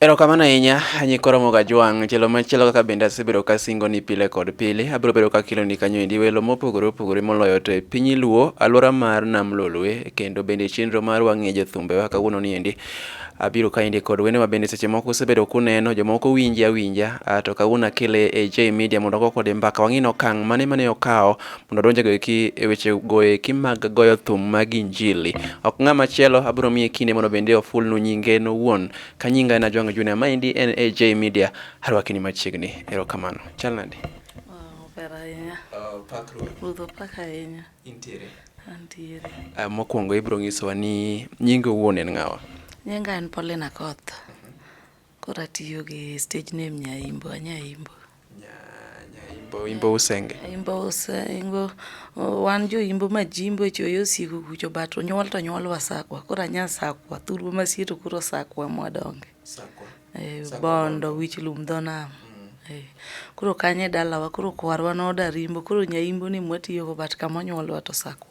Erokamano ahinya nyikoro moga jwang' chelo machielo kaka bende asebedo ka singo ni pile kod pile abiro bedo ka kilo ni kanyo endi welo mopogore opogore moloyo to e piny luo aluora mar nam lolwe kendo bende chenro mar wang'e jothumbe wa kawuono ni endi abiro ka endi kod wende ma bende seche moko usebedo kuneno jomoko winje awinja ah, to kawuono akele e J Media mondo go kode mbaka wang'e okang' mane mane okawo mondo donje go eki e weche go eki mag goyo thum mag injili ok ng'ama chielo abiro miye kinde mondo bende ofulnu nyinge no wuon Ka nyinga en Ajwang' Junior, maendi en AJ Media, arwaki ni machiegni. Erokamano. Chal nade? Wow, ber ahinya. Uh, pakruok. Budho pak ahinya. Intiere. Antiere. Uh, ah, mokwongo ibro ng'isowa ni nyinga owuon en ng'awa? Nyinga en Paulina Koth. Koro atiyo gi stage name Nyaimbo, Anyaimbo. Imbo, imbo usenge. Imbo usengo. Oh, Wan jo imbo majimbo e choyo siku kucho but onyuol to nyuol wasakwa. Koro anya sakwa. Thurwa masie to koro sakwa mwadonge. Sakwa. Eh, Sakwa bondo wich lum dho nam. Eh, Koro kanye dalawa koro kwarwa noda rimbo koro nyaimbo ni mwatiyogo but kama onyuolwa to sakwa.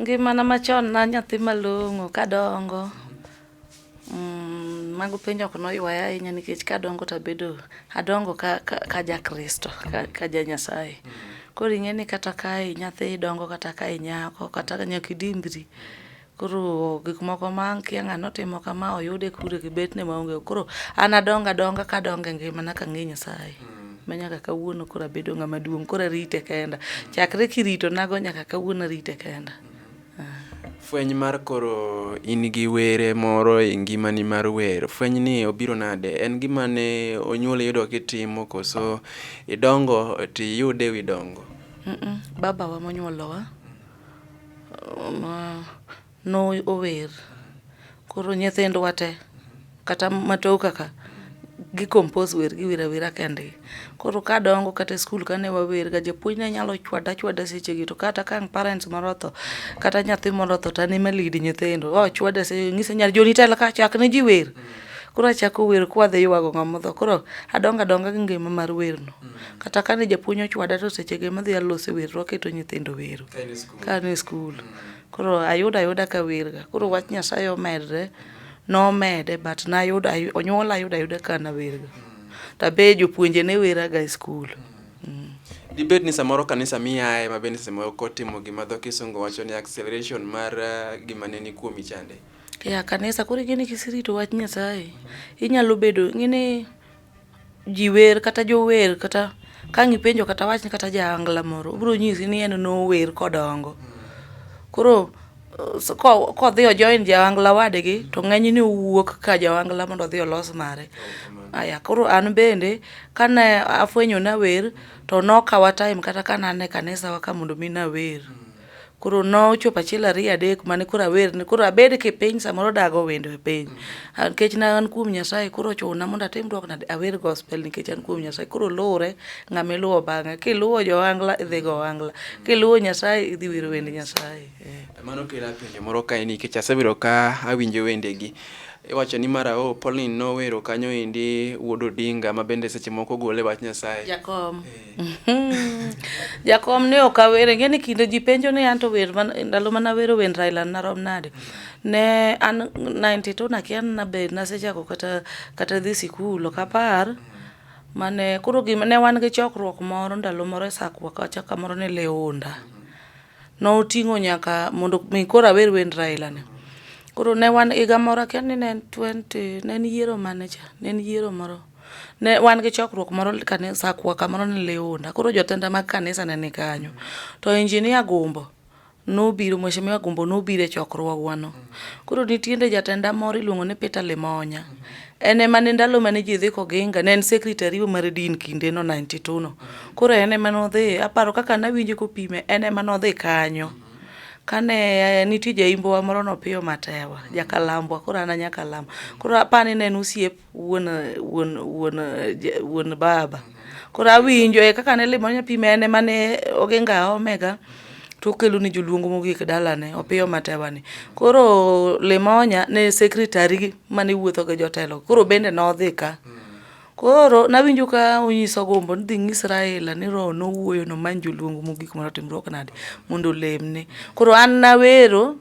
Ngimana machon na nyathi malong'o kadongo mm, mago penjo ok noywaya ahinya nikech kadongo to abedo adongo ka, ka, ka jakristo ka, ka ja nyasaye koro ing'e ni kata ka nyathi dongo kata ka inyako kata nyaka idimbri koro gik moko ma kia ng'ano otimo kama oyude kure gi betne maonge koro an adonga donga kadonga e ngimana kang'e nyasaye mm. ma nyaka kawuono koro abedo ng'ama duong' koro arite kenda chakre kirito nago nyaka kawuono arite kenda fweny mar koro in gi were moro e ngimani mar wer fweny ni obiro nade en gima ne onyuol yudo kitimo koso idongo to iyude e wi dongo babawa monyuolowa No ower. Koro nyithindwa te kata matoka ka gi compose wer gi wira wira kendgi. Koro kadongo kata e skul kane wawer ga japuonj ne nyalo chwada chwada seche gi to kata ka ang' parents moro otho kata nyathi moro otho to an ema lead nyithindo. Ochwada seche go ang'ise ni Joni tel ka chak ne ji wer. Koro achako wer kwa dhi ywago ng'ama otho. Koro adongo adonga gi ngima mar wer no. Kata ka ne japuonj ochwada to seche go ema adhi alose wer to waketo nyithindo wero ka an e skul. Koro ayudo ayuda ka werga. Koro wach Nyasaye omedre, nomede but nayudo onyuola ayudo ayuda ka nawerga. Tabe jopuonje ne weraga e skul. Mm. Dibed ni samoro kanisa miyae ma bende samoro kotimo gima dho kisungu wacho ni acceleration mar uh, gima ne ni kuomi chande. Ya kanisa koro ing'e ni kisirito wach Nyasaye inyalo bedo ing'e ni ji wer kata jower kata ka ang' ipenjo kata awachni kata jaangla moro obiro nyisi ni en nower kodongo. Koro kodhi o join jaangla wadgi to ng'enyne owuok ka jaangla mondo odhi olos mare. Aya koro an bende kane afwenyo nawer to nokawa time kata ka nane kanisawa ka mondo mi nawer. Koro nochopo achiel ariyo adek mane koro awer ni koro abed ki piny samoro dago wendo e piny. Ah, Nikech na an kuom Nyasaye koro ochuna mondo atim dwoko nade awer gospel nikech an kuom Nyasaye. Koro luwre ng'ama iluwo bang'e. Kiluwo johangla idhi go ohangla. Kiluwo Nyasaye idhi wero wend Nyasaye. Eh. Mano kela penjo moro kae nikech asebedo ka awinjo wendegi. Iwacho ni mara o Pauline nowero kanyo endi wuod Odinga ma bende seche moko gole wach Nyasaye. Jakom. Jakom ne ok awere, ing'e ni kinde ji penjo ni anto wer man, ndalo mana wero wend Raila narom nade. Ne an 92 nakia na be nasechako kata kata dhi sikul ok apar. Mane koro gima ne wan gi chokruok moro ndalo moro e sakwa kacha kamoro ne Leonda. Noting'o nyaka mondo mi koro awer wend Raila ni. Koro ne wan higa moro akia ni ne en 20 ne en yiero mane cha, ne en yiero moro. Ne wan gi chokruok moro kanisa kwaka moro ni Leona. Koro jotenda mag kanisa ne ni kanyo. To injinia Gumbo nobiro, Mheshimiwa Gumbo nobiro e chokruogwano. Koro nitiende jatenda moro iluongo ni Peter Limonya. En ema ne ndalo mane ji dhi Koginga, ne en secretary mar din kindeno 92 no. Koro en ema nodhi, aparo kaka nawinje kopime, en ema nodhi kanyo. Kane nitie jaimbowa moro no Opiyo Matewa, jakalambwa, koro an a nyakalamba. Koro apani ne en osiep wuon wuon wuon wuon baba koro awinjo e kaka ne limo nyathi mene mane ogenga omega to okelo ni joluongo mogik dalane opiyo matewani koro limonya ne secretary mane wuotho gi jotelo koro bende nodhi ka koro nawinjo ka onyiso gombo ni dhi ng'is Raila ni roho nowuoyo nomany joluongo mogik mondo otimruok nade mondo olemne koro an nawero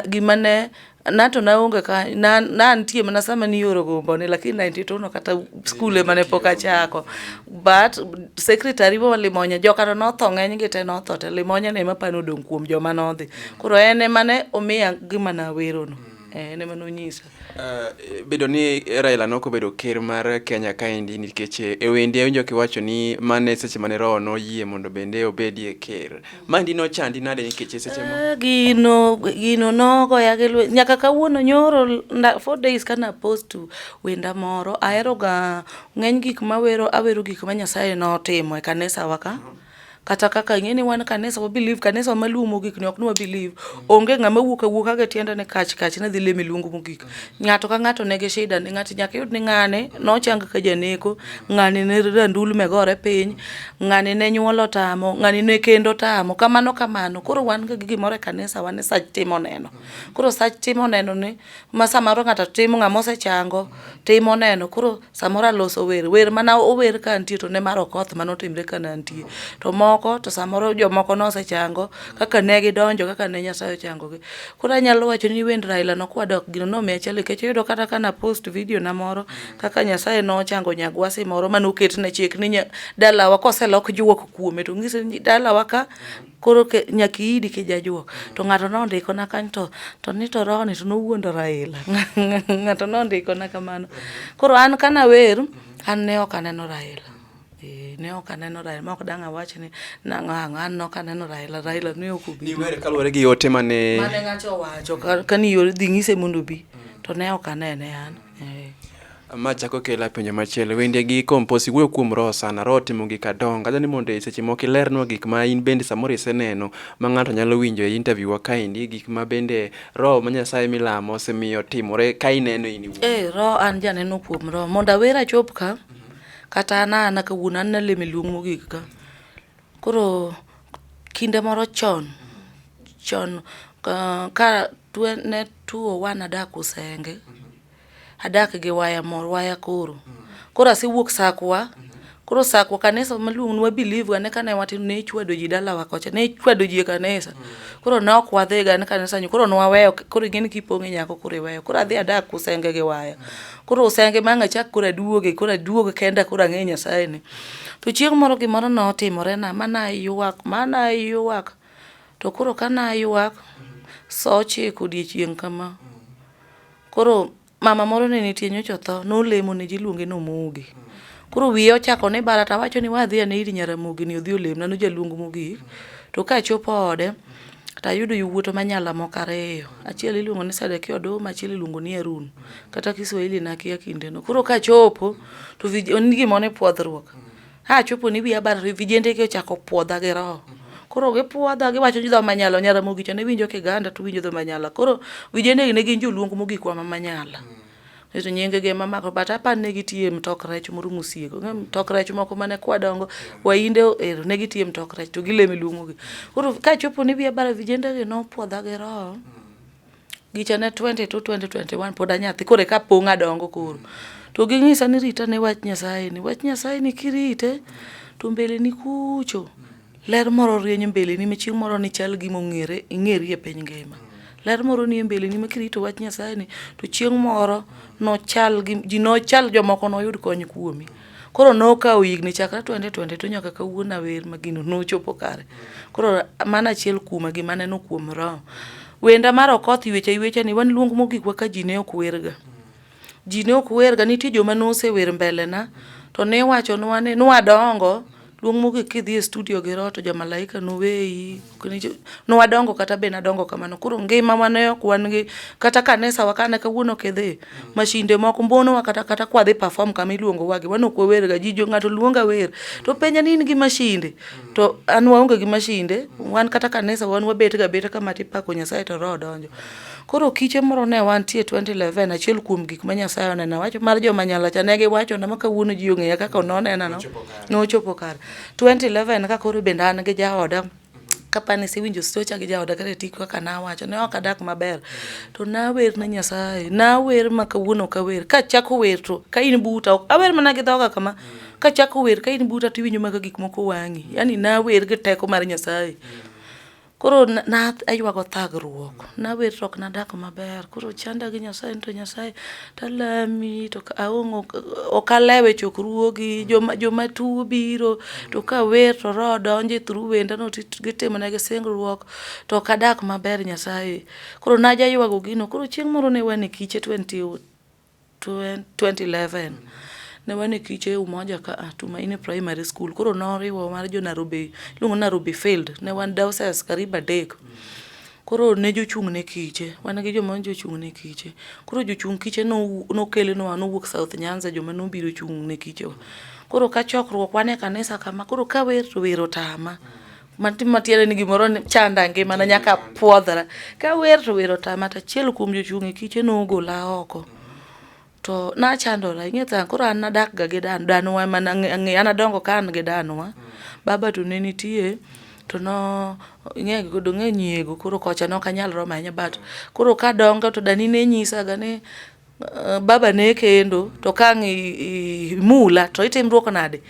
gima ne Na to naonge ka na nantie mana sama nioro gombone lakini 92 no kata skul ema ne pok achako but secretary wa Limonya jokano notho ng'eny gi te notho te Limonya ne ema pano odong' kuom joma nodhi koro en ema ne omiya gima nawerono eh, en ema nonyisa Eh, bedo ni Raila noko bedo ker mar Kenya kaendi nikech eh, e wendi awinjo kiwacho ni mane seche mane roho noyie mondo bende obedie ker Mandi nochandi nade nikech seche mo? Ah, gino gino nogoya gi lwe nyaka kawuono nyoro nda, four days kana post to wenda moro ahero ga ng'eny gik mawero awero gik ma Nyasaye notimo e kanisa waka kata kaka ing'e ni wan kanisa wa believe kanisa maluwo mogik ni ok ni wa believe onge ng'ama wuok awuoka gi tiende ni kach kach ni dhi leme luongo mogik Ng'ato ka ng'ato nigi shida ne ng'ato nyaka iyud ni ng'ane nochang ka janeko, ng'ane ne randulme gore piny, ng'ane ne nyuol otamo, ng'ane ne kend otamo, kamano kamano. Koro wan ga gi gimoro e kanisa wa ni sach timo neno. Koro sach timo neno ni ma samoro ng'ato timo ng'amosechango timo neno. Koro. samoro aloso wer wer mana ower ka nitie to ne mar okoth mane otimre ka nantie to moko to samoro jomoko nosechango kaka ne gidonjo kaka ne nyasaye ochangogi koro anyalo wacho ni wend raila no kwadok gino nomiya chali kech oyudo kata ka na post video na moro kaka nyasaye nochango nyagwasi moro mane oket ne chik ni dalawa koselok juok kuome to ng'ise ni dalawa ka koro nyaka iidi kijajuok to ng'ato nondikona kanyo to to ni to rohoni to nowuondo Raila ng'ato nondikona kamano koro an kana wer an ne ok aneno Raila eh, ne ok aneno Raila ma ok dang' awach ni nang'o ang'o an ne ok aneno Raila Raila ne ok obi ni wer kaluwore gi ote mane mane ng'ato owacho kani yor dhi ng'ise mondo obi to ne ok anene an eh. Ma chako kela penjo machielo. Wende gi kompos iwuoyo kuom roho sana. Roho timo gik adongo. Adwa ni mondo e seche moko ilernwa gik ma in bende samoro iseneno ma ng'ato nyalo winjo e interview wa kaendi gik ma bende roho ma Nyasaye milamo osemiyo timore ka ineno in iwuon. Eh, roho an janeno kuom roho. Mondo awer achop ka, kata an ana kawuono an nalemo e luong mogik ka. Koro kinde moro chon, chon ka, ka twe, ne 201 adak Usenge. adak gi waya mor waya koro koro asewuok sakwa koro sakwa kanisa maluong nwa believe ga ne kane watin ne ichwado ji dalawa kocha ne ichwado ji e kanisa koro ne ok wadhi ga ne kanisa nyo koro nwaweyo koro ing'e ni kipong' e nyako koro iweyo koro adhi adak kusenge gi waya koro usenge ma ang' achak koro aduoge koro aduog kenda koro ang'e nyasaye ni to chieng' moro gimoro notimore na ma naywak ma naywak to koro ka naywak saa ochiko odiochieng' kama Koro mama moro ne nitie nyocha otho, nolemo ne ji iluonge ni Omogi. Koro wiye ochako ne bara to awacho ni we adhi ane ir Nyaramogi ni odhi olemna, nojaluong mogik. To ka achopo ode, to ayudo yowuoto manyala moko ariyo. Achiel iluongo ni Sedekia Oduma, achiel iluongo ni Harun. Kata Kiswahili nakia kindeno. Koro kachopo, to vij en ni gimoro ni pwodhruok. A chopo ni wiya barore, vijende gi ochako puodha gi roho. Koro gipuodha giwacho ni dho manyala onyara mogicha ne winjo kiganda to winjo dho manyala. Koro vijende gi ne gin joluong mogik wa ma manyala. Ito nyinge gi ema mako but apani ne gitiye mtok rech moro musiego. Ng'e mtok rech moko mane kwadongo wainde ero ne gitiye mtok rech to gileme luongo gi. Koro ka chopo ni wiya barore vijende gi nopuodha gi roho. Gicha ne 22, 2021 pod anyathi koro eka pong' adongo koro. To ging'isa ni rita ne wach Nyasaye ni. Wach Nyasaye ni kirite to mbele ni kucho ler moro rieny mbele ni machieng' moro ni chal gima ong'ere ing'eri e piny ngima. Ler moro ni e mbele ni makirito wach Nyasaye ni to chieng' moro nochal gi ji nochal jomoko noyud kony kuomi. Koro nokawo higni chakre twende twende to nyaka kawuono awer ma gino nochopo kare. Koro mano achiel kuoma gima aneno kuom roho. Wenda mar Okoth ywecha ywecha ni wan luong mogikwa ka ji ne ok werga. Ji ne ok werga, nitie joma nosewer mbelena to niwachonwa ni nwadongo Luong mogik kidhi e studio gi roho to jomalaika noweyi. Ne wadongo kata be nadongo kamano. Koro ngima ma ne ok wan gi kata kanisa wa kane kawuono kidhi mashinde moko mbonowa kata kata kwadhi perform kama iluongo wagi wan ok wawer ga ji jo ng'ato luonga wer to penja ni in gi mashinde to an waonge gi mashinde wan kata kanisa wan wabet ga beta kama tipako Nyasaye to roho donjo. Koro kiche moro ne wantie 2011 achiel kuom gik ma Nyasaye oneno wacho mar joma nyalacha ne giwacho na ma kawuono ji ong'eya kaka nonena no. nochopo kar 2011 ka koro bende an gi jaoda kapani siwinjo stocha gi jaoda kata tik kaka nawacho ne ok adak maber to nawer ne nyasaye nawer ma kawuono kawer kachako wer to ka in buta awer mana gi dhoga kama kachako wer ka in buta tiwinjo maka gik moko wang'i yani nawer gi teko mar nyasaye Koro naywago thagruok, nawer to ok nadak maber. Koro chanda gi Nyasaye to Nyasaye talami to aonge ok alewe chokruogi, joma joma tuo biro to ka wer to roho donjo e thuru wenda no gitimo ne gi singruok to ok adak maber Nyasaye. Koro najaywago gino, koro chieng' moro ne wan e kiche to wantie 2011 ne wan e kiche umoja ka a Tumaini Primary School. Koro noriwo mar jo Nairobi, iluongo Nairobi Field. Ne wan dioceses karibu adek. Koro ne jochung' ne kiche, wan gi joma jochung' ne kiche. Koro jochung' kiche no nokelnwa nowuok South Nyanza joma nobiro chung' ne kichewa. Koro ka chokruok wan e kanisa kama, koro kawer to wer otama. matiere ni gimoro chanda ngimana nyaka pwodhra ka wer to wer otama to achiel kuom jochung' e kiche nogola oko to nachandora ing'e tha koro an nadakga gi dan danwa ema ang'e an adongo ka an gi danwa baba to ne nitie to no ing'e godo ng'e nyiego koro kocha nok anyal romo ahinya but koro kadongo to dani ne nyisaga ni eh, baba ne kendo to kang' imula to itimruok nade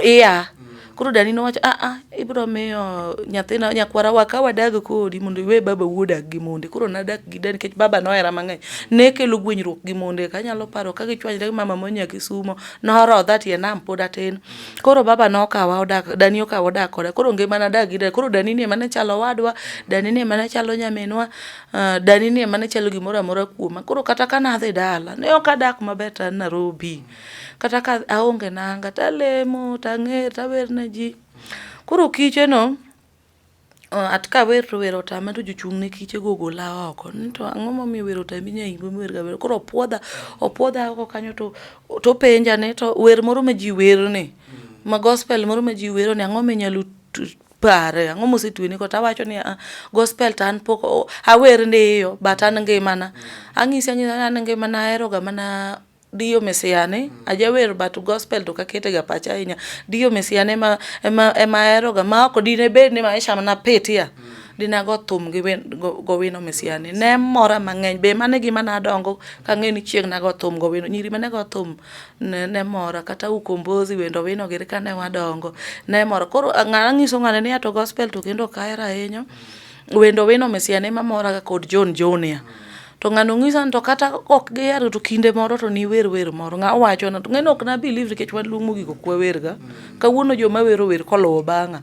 iya koro dani nowacho aa ah, ah, ibro miyo nyathina nyakwara wa ka wadag kodi mondo iwe baba wuodak gi monde koro nadak gi dani nikech baba nohera mang'eny ne kelo gwenyruok gi monde ka anyalo paro ka gichwanyre gi mama monya kisumo norodha tie nam pod atin koro baba nokawa odak dani okawa odak koda koro ngima nadak gi dani koro dani ni emane chalo wadwa dani ni emane chalo nyaminwa ah, dani ni emane chalo gimoro amora kuoma koro kata ka nadhi dala ne ok adak maber ta Nairobi kata ka aonge nanga to alemo to ang'er to awer ne ji. Koro kicheno at ka awer to wer otama to jochung' ne kiche go ogola oko ni to ang'o momiyo wer otami nyai go wer gawer koro opuodha opuodha oko kanyo to topenja ni to wer moro ma ji wer ni ma gospel moro ma ji wero ni ang'o minyalo pare ang'o mosetweni ko tawacho ni ah, gospel to an pok awer ndiyo but an ngimana anyisi anyisa an ngimana aheroga mana Dio Misia ni mm. ajawer but gospel to kakete ga pacha ahinya. Dio Misia ne ma ema ema ahero ga ma ok dine bed ni maisha na pitia. Mm. Dina go thum gi wen go, go wino Misia ni. Ne mora mang'eny be mane gima na dongo ka ng'e ni chieng na go thum go wino. Nyiri mane go thum ne, ne mora kata ukombozi wendo wino gere ka ne wadongo. Ne mora. Koro ng'ana nyiso ng'ane ni ato gospel to kendo kaera ahinya. Mm. Wendo wino Misia ne ma mora ga kod John Junior. Mm. to ng'ano ng'isa ni to kata ok gihero to kinde moro to niwer wer moro ng'a wacho na to ng'eno ok na believe nikech wan luong mogik ok wawerga kawuono joma wero wer kolowo bang'a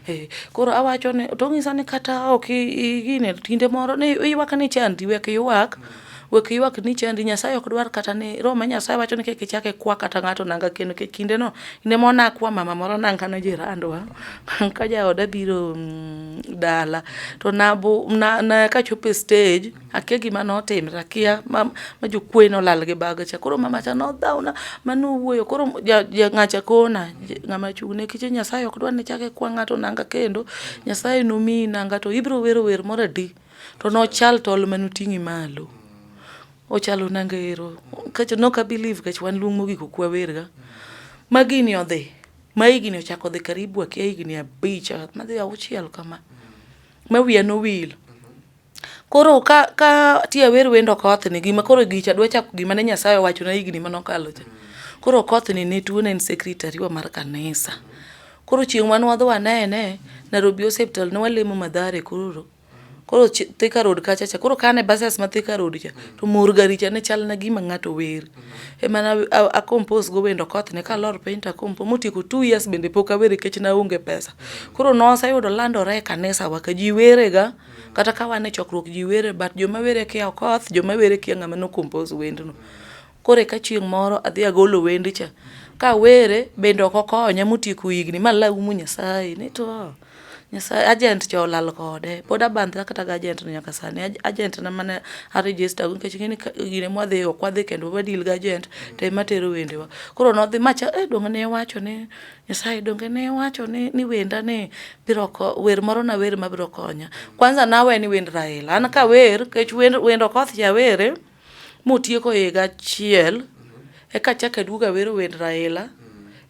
eh, koro awacho ni to ng'isa ni kata ok gine kinde moro ni iywak ni chandi wek iywak wek iywak ni chandi nyasaye ok dwar kata ni roho ma nyasaye wacho ni kik ichak ikwa kata ng'ato nanga kendo nikech kindeno kinde moro nakwa mama moro nanga ne jirandwa ka jaoda biro mm, dala to kachopo e stage akia gima notimre akia ma jokwe nolal gi baga cha koro mama cha nodhawna ma nowuoyo koro ng'acha kona ng'ama chung'ne kiche nyasaye ok dwa ni chake kwa ng'ato nanga kendo nyasaye nomiyi nanga to ibiro wero wer moro adi to nochal tol manoting'i malo ochalo nanga ero kacha nok abelieve kech wan luong mogik okwawerga magini odhi ma higni ochako dhi karibu akia higni abich madhi auchiel kama ma wiya nowil koro ka ka ti awer wendo okoth ni gima koro gicha dwa chako gima ne Nyasaye owacho na higni mane okalo cha koro okoth ni ne tuo ne en secretary wa mar kanisa koro chieng' mane wadhi wanene Nairobi hospital ne walemo Mathare koro koro Thika Road kacha cha koro kane buses ma Thika Road cha to mor gari cha ne chal na gima ng'ato wer ema na a compose go wendo koth ne kalor piny ta kompo motieko 2 years bende pok awere kech na onge pesa koro nosa yudo landore e kanisa wa ka ji were ga kata ka wan e chokruok ji were but joma were kia okoth joma were kia ng'ama no compose wendno Koro eka chieng' moro adhi agolo wendi cha. Ka awere bende ok okonya motieko higni ma laumu Nyasaye ni to ah, Nyasaye agent cha olal kode. Pod abandhra kata gi agent no nyaka sani. Aj- Agent na mane a register go nikech ng'eni ka- gine mwadhi ok wadhi kendo wa deal gi agent to ema tero wendewa. Koro nodhi macha eh donge ne iwacho ni Nyasaye donge ne iwacho ni ni wenda ni biro ko wer moro na wer ma biro konya. Kwanza nawe ni wend Raila. An ka wer kech wend wend Okoth ja were. motieko higa achiel eka achako aduogo awero wend Raila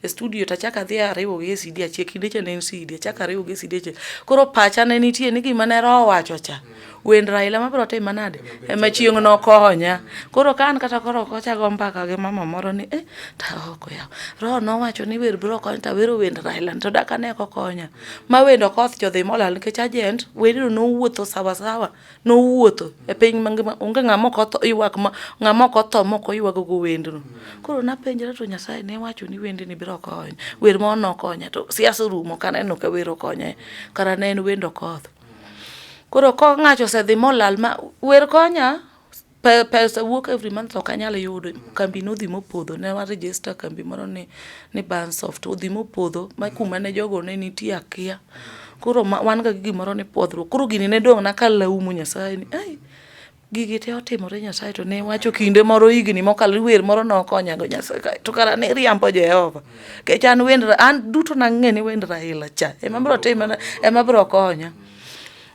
e studio to achako adhi ariwogi e CD achiel, kinde cha ne en CD, achako ariwogi e CD achiel. Koro pacha ne nitie ni gima ne roho owacho cha, wend Raila mabiro timo nade, ema chieng' nokonya. Koro ka an kata koro ok ocha ago mbaka gi mama moro ni eh, to aoko yawa, roho nowacho ni wer biro konyo to awero wend Raila ni to dak ane kokonya. Ma wend Okoth cha odhi molal nikech ajent wendno nowuotho sawa sawa. nowuotho e piny mangima onge ng'ama ok otho ywak ma ng'ama ok otho ma ok oywago go wendno koro napenjra to nyasaye ne wacho ni wendni biro konyo wer ma ono konya to siasa orumo kaneno ka wer okonye kara ne en wendo koth koro kong'acho osedhi molal ma wer konya pesa wuok every month ok anyal yudo kambi no odhi mopodho ne wa register kambi moro ni ni Bansoft odhi mopodho ma kuma ne jogo ne nitie akia koro wan ga gimoro ni pwodhruok koro gini ne dong' na ka laumu nyasaye ni ai gigi te otimore nyasaye to ne wacho kinde moro higni mokalo wer moro nokonyago nyasaye kae to kara ne riambo jehova kech an wend an duto nang'e ni wend raila cha ema bro timona ema bro konya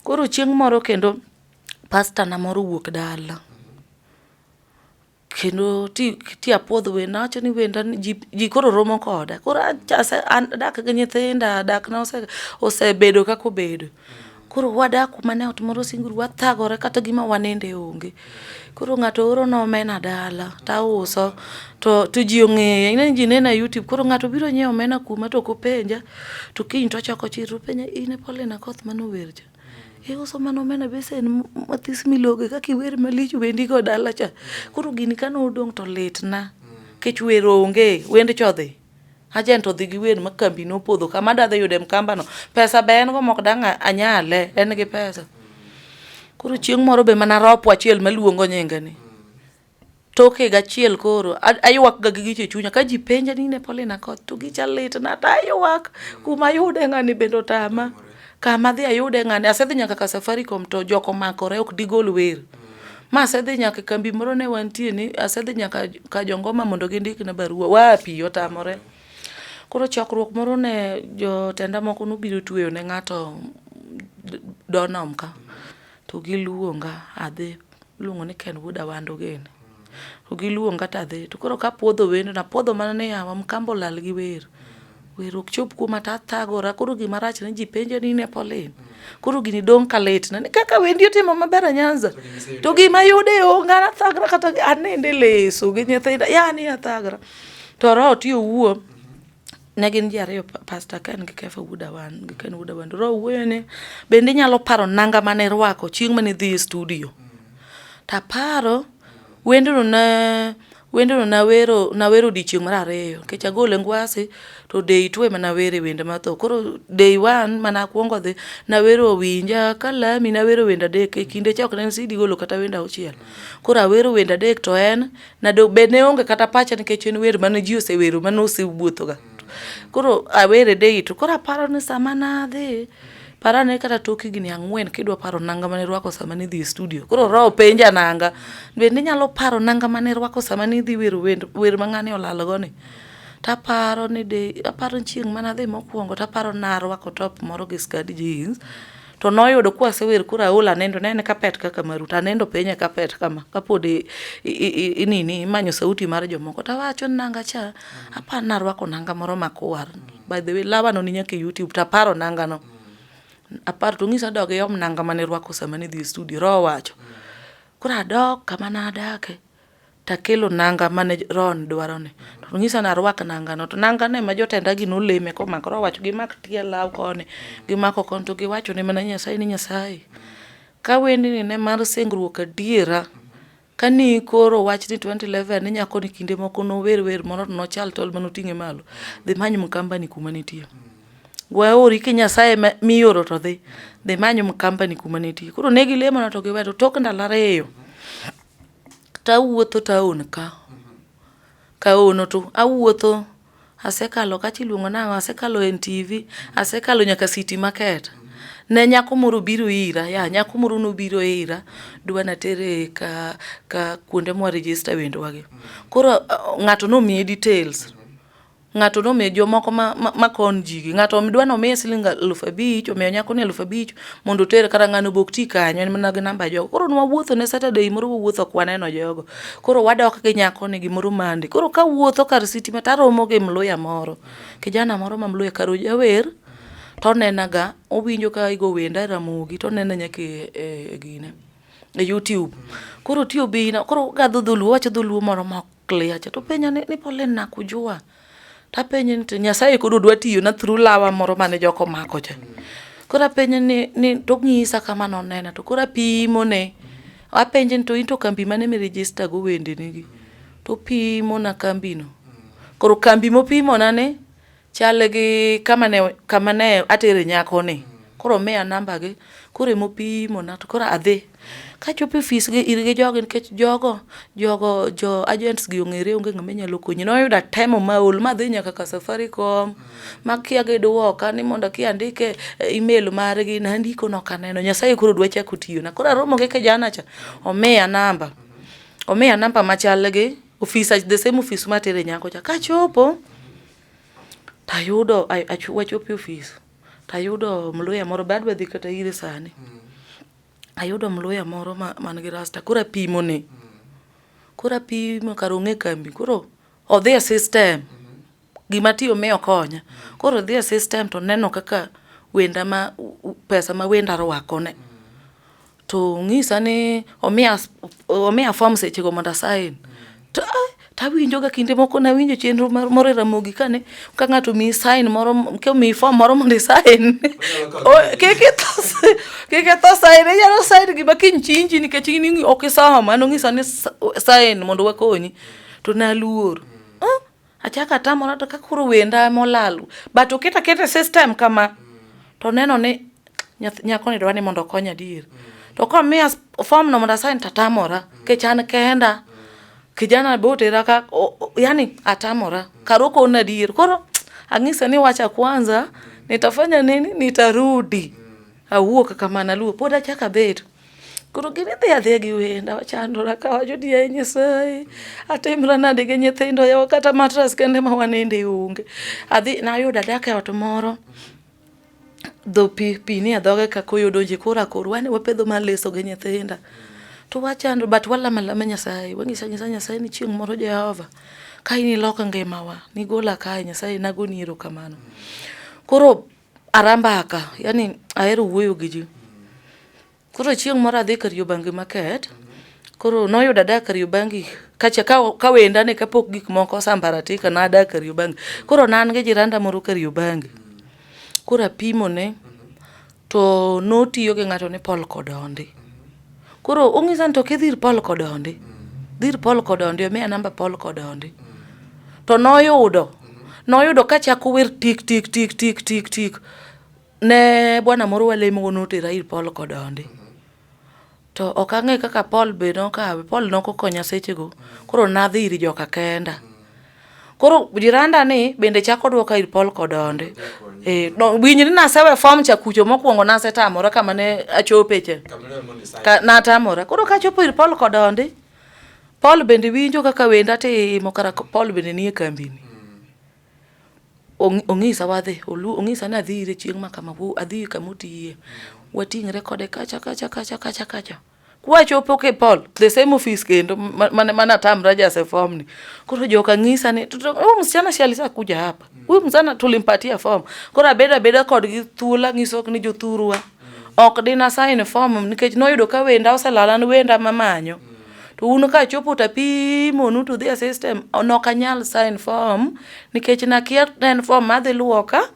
koro chieng' moro kendo Pastor na moro owuok dala kendo ti ti apuodh wenda awacho ni wenda ni ji, ji koro romo koda koro acha- ase- an- adak gi nyithinda dak na ose- osebedo kaka obedo koro wadak kuma ne ot moro singuru wathagore kata gima waninde onge koro ng'ato oro na omena dala tauso to to ji ong'eya ing'e ni ji nena e youtube koro ng'ato biro nyiewo omena kuma to ok openja to kiny to ochako chir to openja in e Paulina Koth mane ower cha iuso mana omena besen mathis miloge kaka iwer malich wendi go dala cha koro gini kane odong' to litna kech wer onge wend chodhi ajent odhi gi wer ma kambi nopodho kama dadhi yude mkambano pesa be en go mok dang' anyale en gi pesa koro chieng' moro be mana ropo achiel maluongo nyinge ni Tok higa achiel koro aywakga gi richo e chunya ka ji penja ni ne Paulina koth to gicha litna to aywak kuma ayude ng'ani bende otama kama adhi ayude ng'ani asedhi nyaka ka Safaricom to jok omakore ok digol wer ma asedhi nyaka e kambi moro ne wantie ni asedhi nyaka ka Jongoma mondo gindikna barua wapi otamore koro chokruok moro ne jotenda moko nobiro tweyo ne ng'ato donom ka To giluonga adhi, iluongo ni Ken Wuod Awando gini. To giluonga to adhi, to koro kapuodho wendo, napuodho mana ni yawa Mkamba olal gi wer. Wer ok chop kuoma to athagora, koro gima rach ni ji penjo ni in e Pauline. Koro gini dong' ka litna, ni kaka wendi otimo maber a Nyanza. To gima yude onge, an athagra kata anindo e leso gi nyithinda, yani athagra. To roho ti owuo. ne gin ji ariyo pasta ken gi kefa wuod awan gi ken wuod awan ro wuoyo ne bende inyalo paro nanga mane irwako chieng' mane idhi e studio taparo wendno ne wendno nawero nawero odiechieng' mar ariyo nikech agole ngwasi to day two ema nawere wende matho koro day one mana akwongo dhi nawero winja kalami nawero wende adek e kinde cha ok ne en sidi golo kata wende auchiel koro awero wende adek to en Nado be ne onge kata pacha nikech en wer mane ji osewero mane osewuothoga. Koro awere dei to koro aparo ni sama nadhi para ne kata tok higni ang'wen kidwa paro nanga mane rwako sama nidhi e studio. Koro roho penja nanga. Be ninyalo paro nanga mane rwako sama nidhi wero wend wer ma ng'ani olalgo ni? Taparo ni de aparo chieng' mane adhi mokwongo taparo narwako top moro gi skadi jeans. to noyudo ka wasewer koro aol anendo ne en kapet kaka maru to anendo penye kapet kama kapod inini imanyo sauti mar jomoko to awacho ni nanga cha mm. apar narwako nanga moro makwar mm. by the way lawano ni nyaka e youtube to aparo nangano mm. apar to ng'isa dog yom nanga mane rwako sama ne dhi e studio roho wacho koro adok kama nadake Takelo nanga mane roho ni dwaro ni. To onyisa ni arwak nanga no. To nanga no ema jotenda gi noleme komako. Roho owacho gimak tie law koni, gimako koni to giwacho ne mana Nyasaye ni Nyasaye, ka wendni ne mar singruok adiera, ka ni ikoro wach ni twenty eleven ni nyako ni kinde moko nower wer moro to nochal tol mane oting'e malo, dhi imany Mkamba ni kuma nitie. We aori ki Nyasaye ema mioro to dhi. Dhi imany Mkamba ni kuma nitie. Koro ne gilemo na to giweyo. To tok ndalo ariyo, tawuotho taon ka kaono to awuotho asekalo kacha iluongo nang'o asekalo e NTV, asekalo nyaka City Market. Ne nyako moro obiro ira, ya nyako moro nobiro ira dwa natere ka ka kuonde mwa register wendwa gi. Koro ng'ato nomiye details. ng'ato nomiyo jomoko ma, ma, ma kon jigi ng'ato dwa nomiye siling aluf abich omiyo nyako ni aluf abich mondo oter kata ng'ano bok ti kanyo en mana gi namba jogo koro nwawuotho ne saturday moro wawuotho kwaneno jogo koro wadok gi nyako ni gimoro mande koro ka wuotho kar siti ma taromo gi mluya moro kijana moro ma mluya kar ojawer to onenaga owinjo ka igo wenda e ramogi to onena nyaka e, e, e gine e youtube koro tiyo bina koro gadho dholuo wacho dholuo moro mok clear cha to penja ni, ni pole na kujua ta penye ni nyasaye kodo dwa tiyo na through lawa moro mane joko mako cha kora penye ni ni to ngisa kama no nena to kora pimo ne a penje ni to into kambi mane mi register go wende ni gi to pimo na kambi no koro kambi mo pimo na ne Chal gi kama ne kama ne atere nyako ni. Koro miya namba gi. Koro emo pimo na to koro adhi. Kachopo e ofis gi ir gi jogi nikech jogo jogo jo agents gi ong'ere onge ng'ama nyalo konyi. Noyudo atemo ma aol ma adhi nyaka ka Safaricom makia gi duoka ni mondo ki andike email margi. Nandiko nok aneno. Nyasaye koro dwa chako tiyona. Koro aromo gi kijana cha omiya namba. Omiya namba machal gi. Ofisa the same office ma tere nyako cha kachopo tayudo wachopo office tayudo mluya moro bad wadhi kata ire sani mm. ayudo mluya moro man ma gi rasta koro apimo ne mm. koro apimo kar ong'e kambi koro odhi e system mm. gima tiyo mi okonya. Koro odhi e system to oneno kaka wenda ma pesa ma wenda arwako ne. To ong'isa ni omiya omiya form seche go mondo a sign. To ah, tawinjo ga kinde moko nawinjo chenro mar moro e Ramogi kane ka ng'ato omiyi sign moro komiyi form moro mondo i sign. O- Kik itho si- kik itho sign inyalo sign gima kiny chinji nikech in ing'i- ok isomo. An ong'isa ni s- sign mondo wakonyi. To naluor. Ah, Achaka tamora to kakoro wenda molalu. But oketa kete system kama. To neno ni nyako ni dwa ni mondo okonya dir. To kwa mia form no mondo asain tatamora. Kech an kenda. Kijana bote raka. Yani atamora. Karoko na dir. Koro angisa ni wacha kwanza. Nitafanya nini? Nitarudi. Awuo kakamana luo. Poda chaka betu. Koro gin idhi adhiya gi wenda wachandora ka wacho ni yaye Nyasaye atimra nade gi nyithindo yawa kata matras kende ma waninde onge. Adhi nayudo adak e ot moro dho pi pi ni e dhoge ka koyo donje kora kor wane wapedho mar leso gi nyithinda. To wachando but walama lama Nyasaye wang'isa nyisa Nyasaye ni chieng' moro Jehova ka in iloko ngimawa nigola kae Nyasaye nagoni erokamano. Koro Arambaka, yani ahero wuoyo gi ji. Koro chieng' moro adhi Kariobangi market, koro noyudo adak Kariobangi kacha ka wenda ne kapok gik moko osambaratika nadak Kariobangi. Koro ne an gi jiranda moro Kariobangi, koro apimone to notiyo gi ng'ato ni Paul Kodondi. Koro ong'isa ni to kidhir Paul Kodondi, dhir Paul Kodondi, omiya namba Paul Kodondi. To noyudo, noyudo kachako wer tik tik tik tik tik tik. Ne bwana moro walemogo notera ir Paul Kodondi. To ok ang'e kaka Paul be nokawe, Paul nokokonya sechego. Koro nadhi ir joka kenda. Koro jiranda ni bende chako dwoka ir pol kodonde. Eh, no, winjri nasewe form cha kucho mokwongo nasetamora kama ne achope cha. Ka, natamora. Koro kachopo ir pol kodonde, Paul bende winjo kaka wenda timo kara Paul bende nie kambini. Ong- Ong'isa wadhi, olu- ong'isa ni adhi ire chieng' ma kama, wo- adhi kama otiye. Wating're kode kacha kacha kacha kacha kacha. kwachopo kipol the same office kendo mane mane atamra jase form ni koro joka ng'isa ni huyu msichana si alisa kuja hapa huyu msichana tulimpatia form koro abeda abeda kod gi thula ng'iso ni jothurwa ok dina sign form nikech noyudo ka wenda oselala ni wenda mamanyo to un ka chopo ta pimo nu to the system nok anyal sign form nikech nakia en form madhi luoka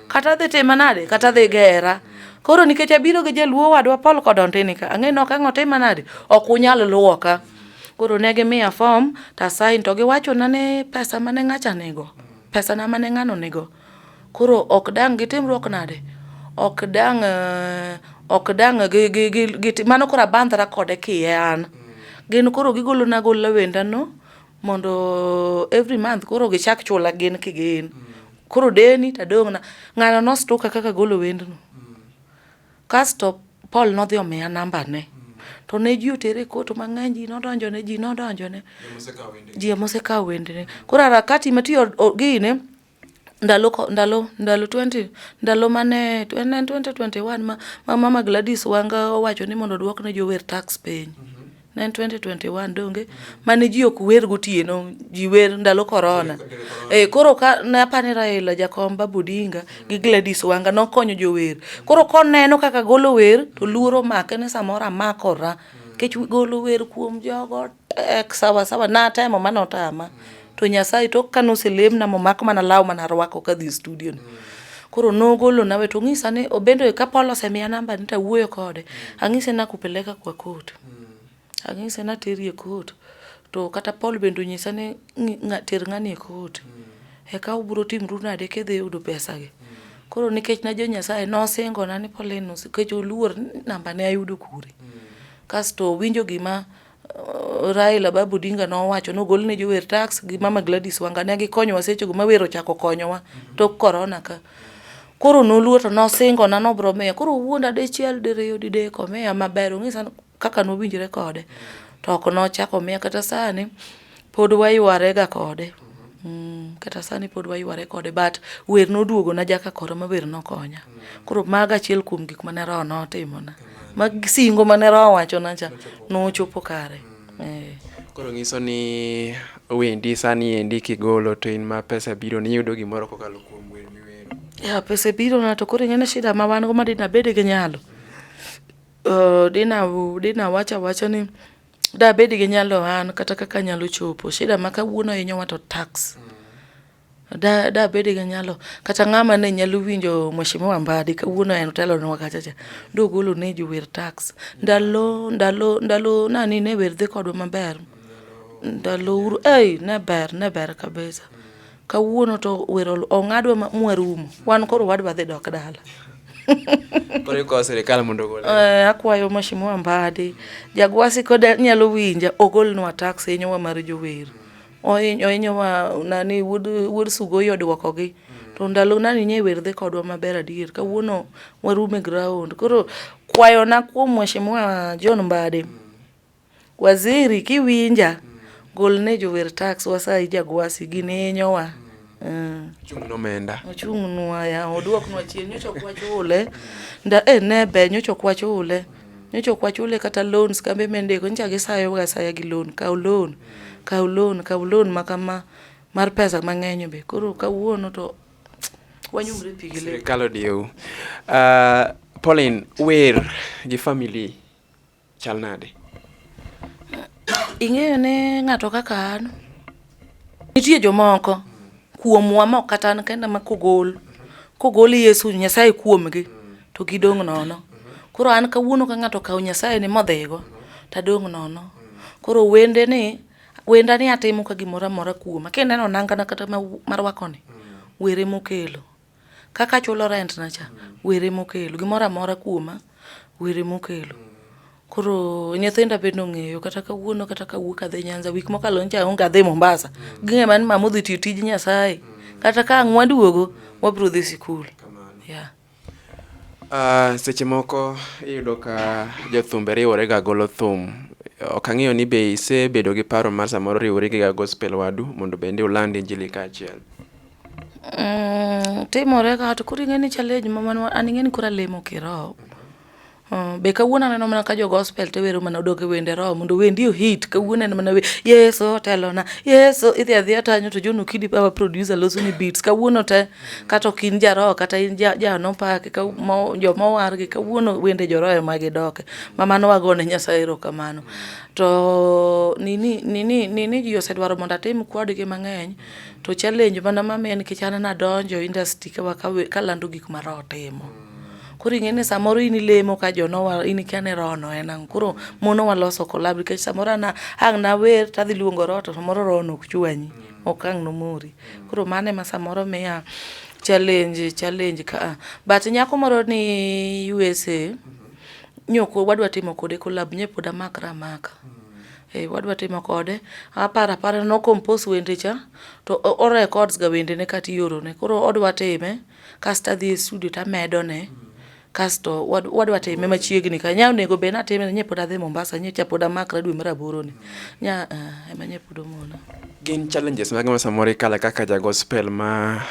kata dhi tima nade kata dhi gera koro nikech abiro gi jaluo wadwa pol kod ontini ka ang'e nok ang'o tima nade ok unyal luwo ka koro ne gimiya fom to asain to giwachona ni pesa mane ng'acha nigo pesa na mane ng'ano nigo koro ok dang' gitimruok nade ok dang' eh, ok dang' gi- gi- gi- giti- mano koro abandhra kode kiye an gin koro gigolona gola wendano mondo every month koro gichak chula gin kigin mm. koro deni tadong'na ng'ano nostuka kaka golo wendno mm. kasto paul nodhi omiya nambane mm. to ne ji otere koto mang'eny ji nodonjone ji nodonjone ji emosekawo wendene koro arakati matiyo gine ndalo ndalo ndalo twenty ndalo mane en en twenty twenty one ma ma mama Gladys Wanga owacho ni mondo odwok ne jower tax piny. Ne en twenty twenty one donge mane ji ok wer gotieno, ji wer ndalo korona. Eh, koro ka ne apa ni Raila jakom Babu Odinga gi Gladys Wanga nokonyo jower. Koro koneno kaka agolo wer to luoro omake ni samoro amakora, nikech golo wer kuom jogo Eh, sawa sawa, natemo ma notama. To Nyasaye to ka noselemna momako mana law mana rwako kadhi e studio ni. Koro nogolo nawe to ng'isa ni obendo e kapolo osemiya namba ni tawuoyo kode. Ang'ise nakupeleka kwa court. Ang'ise nateri e court. To kata Paul bende onyisa ni ng'i- ng'a- ter ng'ani e court. Eka ubiro timru nade kidhi yudo pesa gi. Koro nikech na jo Nyasaye nosingona ni Pauline usi- nikech oluor ni namba ne ayudo kure. Kasto owinjo gima Raila Babu Odinga nowacho nogol ne jower tax gi Mama Gladys Wanga ne gikonyowa sechego ma wer ochako konyowa tok korona ka. Koro noluo to nosingona nobro miya koro owuonda dichiel diriyo didek omiya maber ong'e sani kaka nowinjre kode to ok nochako omiya kata sani Pod wayware ga kode. Mm, kata sani pod wayware kode but wer noduogo na jaka koro ma wer nokonya. Koro maga achiel kuom gik mane roho notimo na. Mag singo mane roho wacho na cha nochopo kare. Eh. Koro nyiso ni wendi sani endi kigolo to in ma pesa biro ni yudo gimoro kokalo kuom wer miwero. Ya pesa biro na to koro ing'e shida ma wan go ma dina bede gi nyalo. Uh, dina dina wacha wacha ni Dabed gi nyalo an kata kaka anyalo chopo. Shida ma kawuono hinyowa to tax. Da dabed gi nyalo kata ng'ama ne nyalo winjo mheshimiwa Mbadi kawuono en otelonwa kacha cha. Dogolo ne ji wer tax. Ndalo ndalo ndalo nani ne wer dhi kodwa maber. Ndalo Uhuru ei ne ber ne ber kabisa. Kawuono to wero ong'adwa mwarumo. Wan koro wadwa dhi dok dala. Koro ikawo sirikal mondo ogol. Eh, akwayo Mheshimiwa Mbadi, Jagwasi koda nyalo winja ogolnwa tax hinyowa mar jower. Ohinyowa nani wuod wuod Sugoi odwokogi. To ndalo nani nye wer dhi kodwa maber adier. Kawuono warume ground. Koro kwayona kuom Mheshimiwa John Mbadi. Waziri kiwinja gol ne jower tax wasayi jagwasi gin hinyowa mm. ochung' nomenda ochung' nwa ya oduok nwa chien nyocha ok wachule nda eh, ne be nyocha ok wachule nyocha ok wachule kata loans kambe mendeko nyocha gisayoga asaya gi loan kaw loan kaw loan kaw loan ma kama mar pesa mang'eny be koro kawuono to wanyumre pi gi le sirikal odiewu uh, Pauline wer gi family Chal nade? Ing'eyo ne ng'ato kaka an. Nitie jomoko kuomwa mok kata an kenda ma kogol kogol Yesu Nyasaye kuomgi to gidong' nono. Koro an kawuono ka ng'ato okawo Nyasaye ni modhigo to adong' nono. Koro wende ni wenda ni atimo ka gimoro amora kuoma. Kineno nangana kata marwakoni were mokelo. Kaka achulo rent na cha, wer ema okelo. Gimoro amora kuoma, wer ema okelo. Koro nyithinda bende ong'eyo kata kawuono kata kawuok adhi Nyanza, wik mokalo nyocha aonge adhi Mombasa. Ging'e mana ni mama odhi tiyo tij Nyasaye. Kata ka ang' waduogo, wabiro dhi sikul. Yeah. Uh, seche moko iyudo ka jothumbe riwore ga golo thum ok ang'eyo ni be isebedo gi paro mar samoro riwori gi gospel wadu mondo bende uland injili kaachiel Mm, timore ka to koro ing'e ni challenge ma man an ing'e ni koro alemo kiroho Uh, be kawuono aneno mana ka jo gospel te wero mana odok e wende roho mondo wendi ohit kawuono en mana yeso telona yeso idhi adhiya tanyo to jono kidi baba producer loso ni beats kawuono te kata ok in jaroho kata in jano pake joma owargi kawuono wende joroho ema gidoke ma mano wagone nyasaye erokamano to nini nini nini ji osedwaro mondo atim kodgi mang'eny To challenge mana ma en nikech an nadonjo industry ka kalando gik ma roho timo. Koro ing'e ni samoro in ilemo ka jonowa in ikia ni roho no en ang'o. Koro monowa loso collab nikech samoro an ang' nawer tadhi luongo roho to samoro roho no ok chwanyi. Ok ang' nomori. Koro mano ema samoro miya challenge challenge ka a. But nyako moro ni USA nyoko wadwa timo kode collab nye pod amakra amaka. Eh, wadwa timo kode aparo apara no compose wende cha to o records ga wende ne kati yoro ne koro odwa time kasto adhi e studio to amedo ne kasto wadwa time machiegni ka nya onego be natime nye pod adhi Mombasa nye cha pod amakra dwe mar aboro ni nya eh, ema nye pod omona Gin challenges mage ma samoro ikale kaka ja gospel ma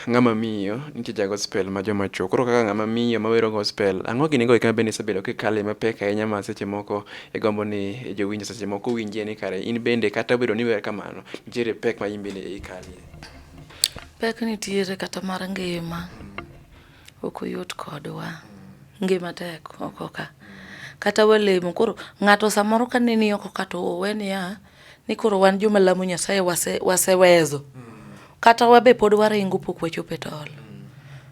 ng'ama miyo, nitie ja gospel ma joma chuo. Koro kaka ng'ama miyo ma wero gospel, ang'o gini go eka bende isebedo kikale mapek ahinya ma seche moko igombo ni jowinjo seche moko winjie ni kare in bende kata obedo ni iwer kamano, nitiere pek ma in bende ikalie. Pek nitiere kata mar ngima, ok oyot kodwa. Ngima tek oko ka. Kata walemo, koro ng'ato samoro ka neni oko ka to owe niya, ni koro wan joma lamo Nyasaye wasewezo wase mm. kata wabe pod waringo pok wachopo e tol mm.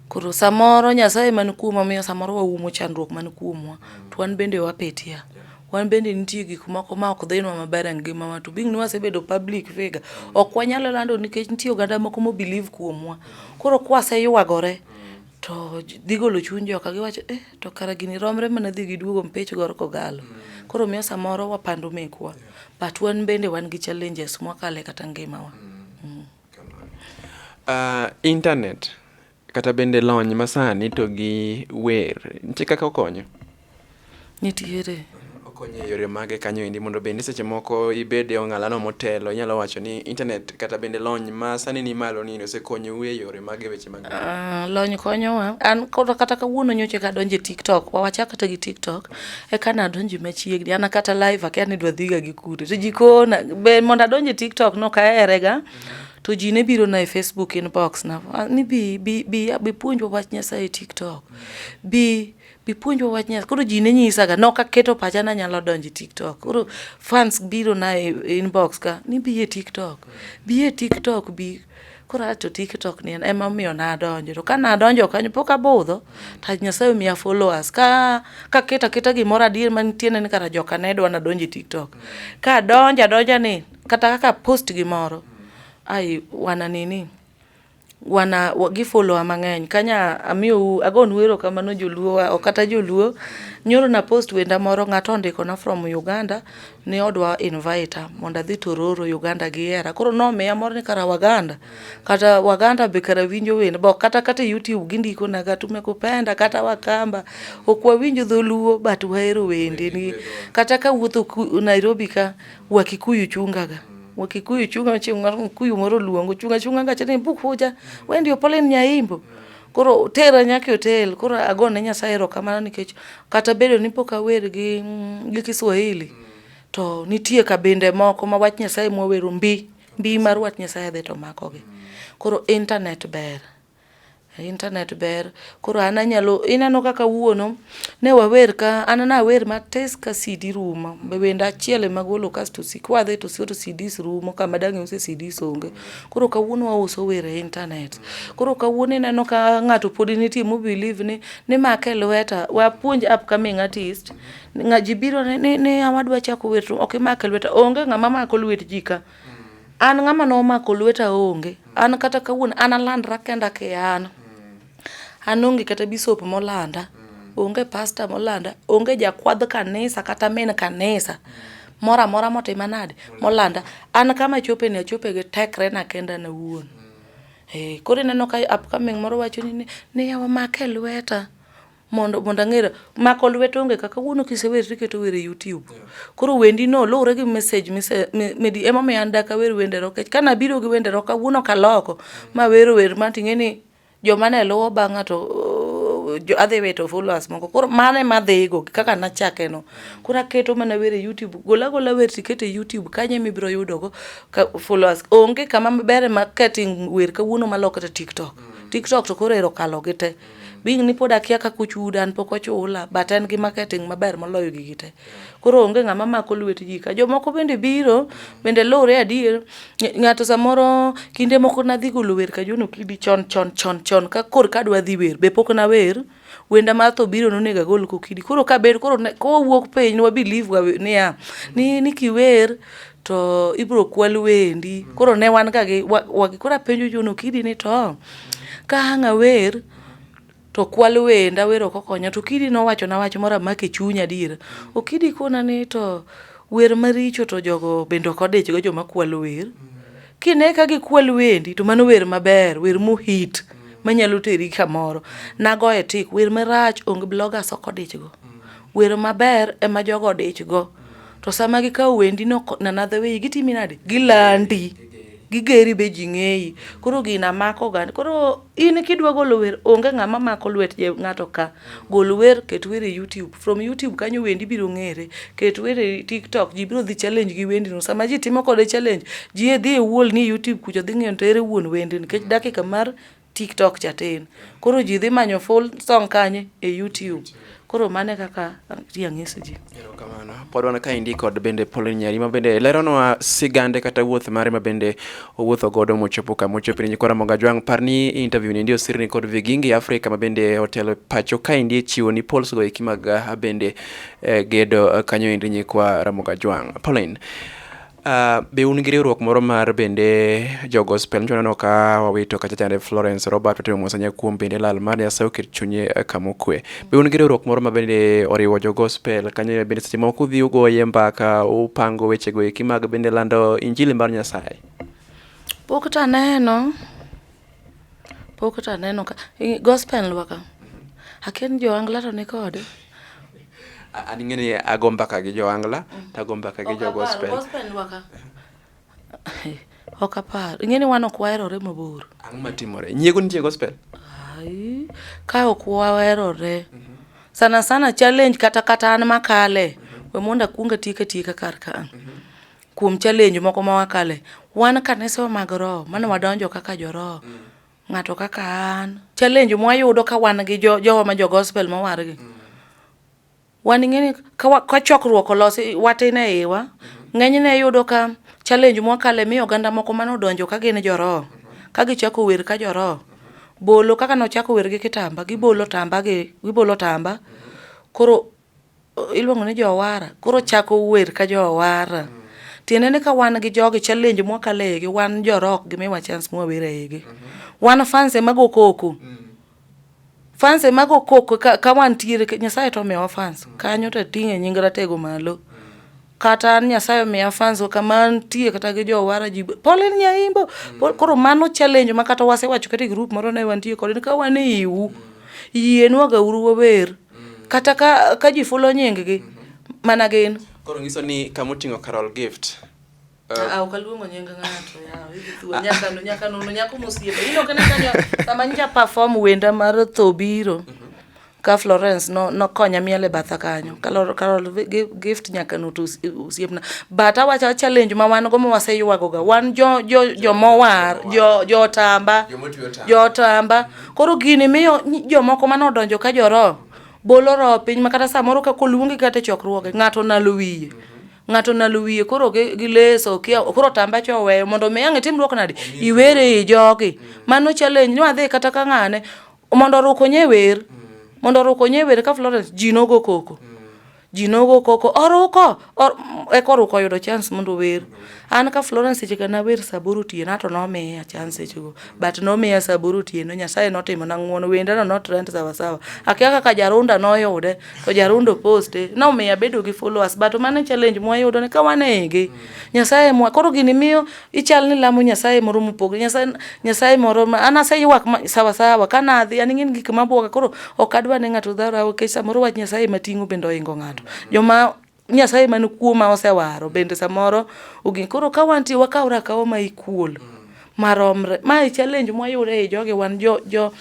koro samoro Nyasaye man kuomwa miyo samoro waumo chandruok man kuomwa mm. to wan bende wapetia yeah. wan bende nitie gik moko ma ok dhinwa maber e ngimawa to bing ni wasebedo public figure ok wanyalo lando nikech nitie oganda moko mobelieve kuomwa koro kwaseywagore mm. to dhi golo chuny joka giwacho eh, to kara gini romre mana dhi giduogo mpich gor kogalo mm. koro miyo samoro wapando mekwa yeah. but wan bende wan gi challenges mwakale kata ngimawa mm. mm. Uh, internet kata bende lony masani to gi wer nitie kaka okonyo Nitiere. Okonyo e yore mage kanyo endi mondo bende seche moko ibed e ong'alano motelo inyalo wacho ni internet kata bende lony ma sani ni malo ni osekonyou e yore mage weche mag uh, lony konyowa an koro kata kawuono nyoche ka donje TikTok wa wachak kata gi TikTok e kana adonje machiegni ana kata live akia ni dwa dhiga gi kure to jikona be mondo adonje TikTok no kaerega mm -hmm. to ji ne biro na e Facebook inbox na ni bi bi bi bi puonjwa wach Nyasaye e TikTok bi bi puonjwa wach Nyasaye. Koro ji ne nyisaga, nok aketo pacha ni anyalo donjo e TikTok. Koro fans biro na e inbox ka ni bi e TikTok, bi e TikTok bi. Koro a to TikTok ni ema omiyo nadonjo. To ka nadonjo kanyo pok abudho, to Nyasaye omiya followers. Ka aketo aketa gimoro adier mantie ne ni kara joka ne dwa nadonj e TikTok. Ka adonjo adonja ni kata kaka a post gimoro, ai wana nini. wana gi follow wa mang'eny kanya amiyou agonu erokamano joluo wa ok kata joluo. Nyoro na post wenda moro ng'ato ondiko na from Uganda ni odwa invite a mondo adhi Tororo Uganda gihera koro nomiya mor ni kara waganda kata waganda be kara winjo wende be ok kata kata e YouTube gindiko na ga tumekupenda kata wakamba. Ok wawinj dholuo but wahero wendeni kata kawuotho Nairobi ka wakikuyu chunga ga. Wakikuyu chunga chunga kuyu moro luongo chunga chunga gache ni bukuja wendi opolen nyaimbo koro tera nyaka otel koro agone nyasaye erokamano nikech kata bedo ni pok awer gi mm, gi kiswahili to nitie kabinde moko ma wach nyasaye mwawero mbi mbi mar wach nyasaye dhi to makogi koro internet ber Internet ber. Koro an anyalo, ineno kaka wuono, ne wawer ka, an nawer matis ka CD rumo. Be wenda achiel ema golo kasto si, kwadhi to siyo to CDs rumo kama dang' iuse CDs onge. Koro kawuono wauso wer e internet. Koro kawuono ineno ka ng'ato podi nitie mo believe ni nimake lweta, wapuonj upcoming artist. Ji biro ni ni yawa adwa chako wer to ok imake lweta. Onge ng'ama mako lwet ji ka. An ng'ama nomako lweta onge. An kata kawuono an alandra kenda ki an. An onge kata bisop molanda, onge pasta molanda, onge jakwadh kanisa kata min kanisa moro amora motima nade molanda. An kama achope ni achope gi tekre na kenda an awuon. Ee, koro ineno ka upcoming moro wacho ni ni yawa make lweta. mondo mondo ang'era mako lwet onge kaka wuono kisewer tiketo wer e YouTube koro wendi no luwre gi message mise medi ema me anda ka wer wende roke kana biro gi wende roka wuono kaloko ma wer wer ma ting'e ni joma ne luwo bang'a to adhi wito followers moko koro mano ema adhigo kaka nachake no koro aketo mana wer e youtube gola gola wer tikete e youtube kanyo ema ibiro yudogo followers onge kama ber ma kating wer kawuono maloko to tiktok mm. tiktok to koro ero kalogi te being ni pod akia kaka ochuda an pok ochula but en gi marketing maber moloyo gigi te koro onge ng'ama mako lwet ji ka jomoko bende biro bende luwre adier ng'ato samoro kinde moko nadhi golo wer ka jono kidi chon chon chon chon ka kor ka dwa dhi wer be pok nawer wenda mar tho biro nonego agol kokidi koro kabed koro kowuok piny nwa believe niya ni ni kiwer to ibiro kwal wendi. Koro ne wan ga gi wagi. Koro apenjo John Okidi ni to ka ang' awer to kwal wenda wer ok okonya to Okidi nowachona wach moro amako e chunya adier. Okidi kona ni to wer maricho to jogo bende ok odichgo joma kwalo wer. Kine ka gikwal wendi to mano wer maber, wer mohit manyalo teri kamoro. Nagoye tik, wer marach onge, bloggers ok odichgo. Wer maber ema jogo odichgo. to sama gikawo wendi no nanadhe weyi gitimi nade gilandi gigeri be ji ng'eyi koro gina mako oganda koro in kidwa golo wer onge ng'ama mako lwet ng'ato ka gol wer ket wer e youtube from youtube kanyo wendi biro ng'ere ket wer e tiktok ji biro dhi challenge gi wendino sama ji timo kode challenge ji e dhi e wuol ni e youtube kucho dhi ng'eyo to ere wuon wendni nikech dakika mar TikTok cha tin. Koro ji dhi manyo full song kanye e YouTube. Koro mano e kaka ati ang'is ji. Erokamano. Pod wan kaendi kod bende Pauline Nyari ma bende leronwa sigande kata wuoth mare ma bende owuotho godo mochopo kama ochopo ni nyikwa Ramogi Ajwang'. Par ni interview ni endi osirni kod Vigingi Africa ma bende otelo e pacho kaendi e chiwo ni polls go eki mag ah, bende eh, gedo eh, kanyo endi nyikwa Ramogi Ajwang'. Pauline, Uh, be un gi riwruok moro mar bende jo gospel njo neno ka wawito kacha chande Florence Robert otimo mosanya kuom bende lal mar Nyasaye oket chunye eh, kama okwe. Be un gi riwruok moro ma bende oriwo jo gospel kanyo bende seche moko udhi ugoye mbaka upango weche go eki mag bende lando injili mar Nyasaye. Pok taneno. Pok to aneno ka gospel wa ka. Akia ni Joangla to nikode. An ing'e ni ago mbaka gi Joangla mm. to ago mbaka gi jo gospel. Gospel wa ka. Ok apar. Ing'e ni wan ok waherore mabor. Ang'o matimore? Nyiego nitie gospel? Ai, ka ok waherore. Mm -hmm. Sana sana challenge kata kata an makale. Mm -hmm. We mondo akuong atiek atieka kar ka. Mm -hmm. kuom challenge moko ma wakale wan kanisa mag roho mane wadonjo kaka joroho mm. ng'ato kaka an challenge mwayudo ka wan gi jowa jo ma jo gospel mowargi mm. wan ing'eni ka chokruok olosi watin e iwa mm-hmm. ng'enyne yudo ka challenge mwakale mi oganda moko mane odonjo ka gin joroho mm-hmm. ka gichako wer ka joroho mm-hmm. bolo kaka nochako wer gi kitamba gibolo tamba gi gibolo tamba koro iluongo ni jowara koro chako wer ka jowara mm. tiende ni ka wan gi jogi challenge mwakalo e igi wan jorok gi miwa chance mwawer e igi mm -hmm. wan fans ema go koko mm. fans ema go koko ka, ka wantiere nyasaye to omiyowa fans mm. kanyo to ating'e nying ratego malo mm. kata an nyasaye omiya fans kaka mantie kata gi jowara ji pole ni aimbo mm. koro mano challenge ma kata wasewacho kata e group moro ne wantie kod ka wan e iwu mm. yienwa ga uru wawer mm. kata ka ka ji fulo nying gi mm-hmm. mana gin koro ngiso ni kama oting'o Carol Gift Uh, ah, ah, ukaluongo nying ng'ato nyaka nyaka nono nyako mosiepe ino kana kanyo sama nja perform wenda mar tho biro mm -hmm. ka Florence no nokonya miel e batha kanyo kalor kalor gift nyaka no to usiepna but awacha challenge ma wan go ma waseywago ga wan jo jo jo mowar jo jo tamba jo tamba koro gini miyo jomoko mane odonjo ka joro bolo roho piny ma kata samoro ka koluongi kata e chokruoge ng'ato nalo wiye ng'ato nalo wiye koro gi, gi leso kia koro tamba cho oweyo mondo mi ang' itim luok nade iwere i jogi mano challenge ni wadhi kata ka ng'ane mondo oruk onye wer mondo oruk onye wer ka Florence ji nogo koko ji nogo koko oruko or- eka oruko oyudo chance mondo ower an ka Florence seche ka nawer saboro otieno ato nomiya chance sechego but nomiya saboro otieno Nyasaye notimo na ng'uono wendano not rent sawa sawa akia kaka Jarunda noyude to Jarunda oposte nomiyo abedo gi followers but mano e challenge mwayudo ni ka wanege Nyasaye mwa koro gini miyo ichal ni lamo nyasaye moro mopogre nyasaye nyasaye moro ma an aseywak sawa sawa ka nadhi an ing'eni gik mabwoga koro ok adwa ne ng'ato dhara nikech samoro wach nyasaye mating'o bende oingo ng'ato joma nyasaye man kuoma osewaro bende samoro ogin koro ka wantie wakawra akawa ma ikuol maromre ma e challenge mwayudo ei jogi wan jo jo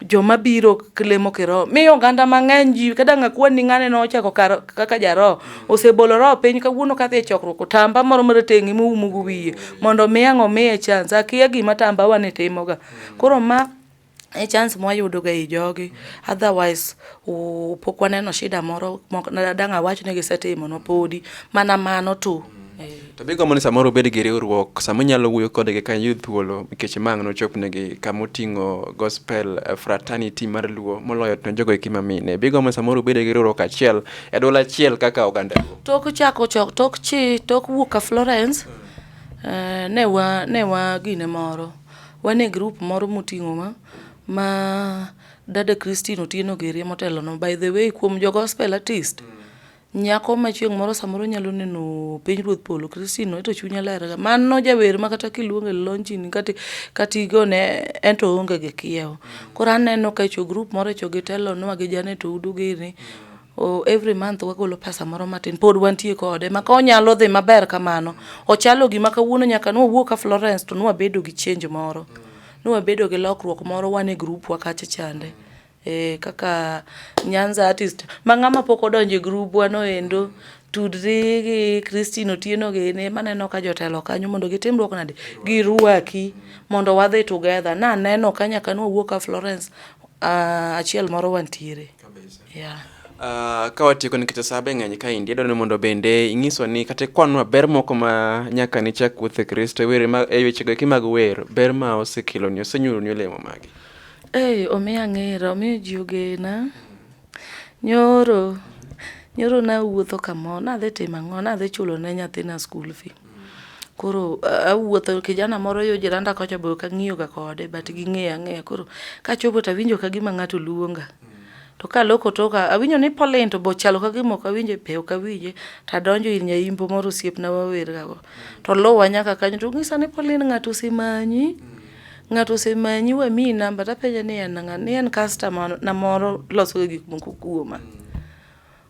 joma biro lemo kiroho miyo oganda mang'eny ji kada ng'akwani ni ng'ane nochako kaka jaroho osebolo roho piny kawuono kadhi e chokruok otamba moro marateng'i moumogo wiye mondo mi ang' omiye chance akia gima tamba wa ni timoga koro ma e chance mwayudoga e jogi otherwise pok waneno shida moro dang' awach ni gisetimonwa podi mana mano tu To be gombo ni samoro obed gi riwruok sama inyalo wuoyo kodgi ka iyud thuolo nikech mang' nochopnegi kama oting'o gospel eh, fraternity mar luo moloyo to jogo eki mamine. Be gombo ni samoro obed gi riwruok achiel e dwol achiel kaka oganda luo. Tok chako chok tok chi tok wuok ka Florence eh, ne wa ne wa gine moro wan e group moro moting'o ma ma dada Christine Otieno Gerie motelo no by the way kuom jo gospel artist Nyako ma chieng' moro samoro nyalo neno piny ruoth polo Christine no to chunya lerga. Mano jawer ma kata kiluonge lonjini kati kati gone ento onge gi kiewo. Koro aneno ka cho group moro cho gitelo nwa gi Janet Oudu gini. Oh, every month wagolo pesa moro matin pod wantie kode maka onyalo dhi maber kamano ochalo gima kawuono nyaka nwa wuo ka Florence to nwa bedo gi change moro nwa bedo gi lokruok moro wan e group wa kacha chande Eh, kaka Nyanza artist ma ng'ama pok odonjo e grubwa no endo tudri gi Christine Otieno gini maneno ka jotelo kanyo mondo gitimruok nade girwaki mondo wadhi together naneno ka nyaka nwawuok ka Florence uh, achiel moro wantiere yeah. Uh, ka watieko nikech sabe ng'eny ka indi adwaro ni mondo bende ing'iso ni kata kwanwa ber moko ma nyaka nichak wuoth e kristo e were e wechego eki mag wer ber ma osekeloni osenyuroni olemo magi Ei, omiya ng'era, omiyo ji ogena. Nyoro, nyoro nawuotho kamoro, nadhi timo ang'o, nadhi chulo ne nyathina school fee. Koro awuotho, kijana moro yo jiranda kocha be ok ang'iyo ga kode but ging'eya ang'eya. Koro kachopo tawinjo ka gima ng'ato luonga. To kaloko toka, awinjo ni Pauline to be ochalo ka gima ok awinje, be ok awinje. Tadonjo ir nyaimbo moro osiepna wawer ga go. Toluwa nyaka kanyo tonyisa ni Pauline ng'ato osemanyi. Ng'ato osemanyi wamiyi namba tapenje ni en ng'a, ni en customer na moro losoga gik moko kuoma.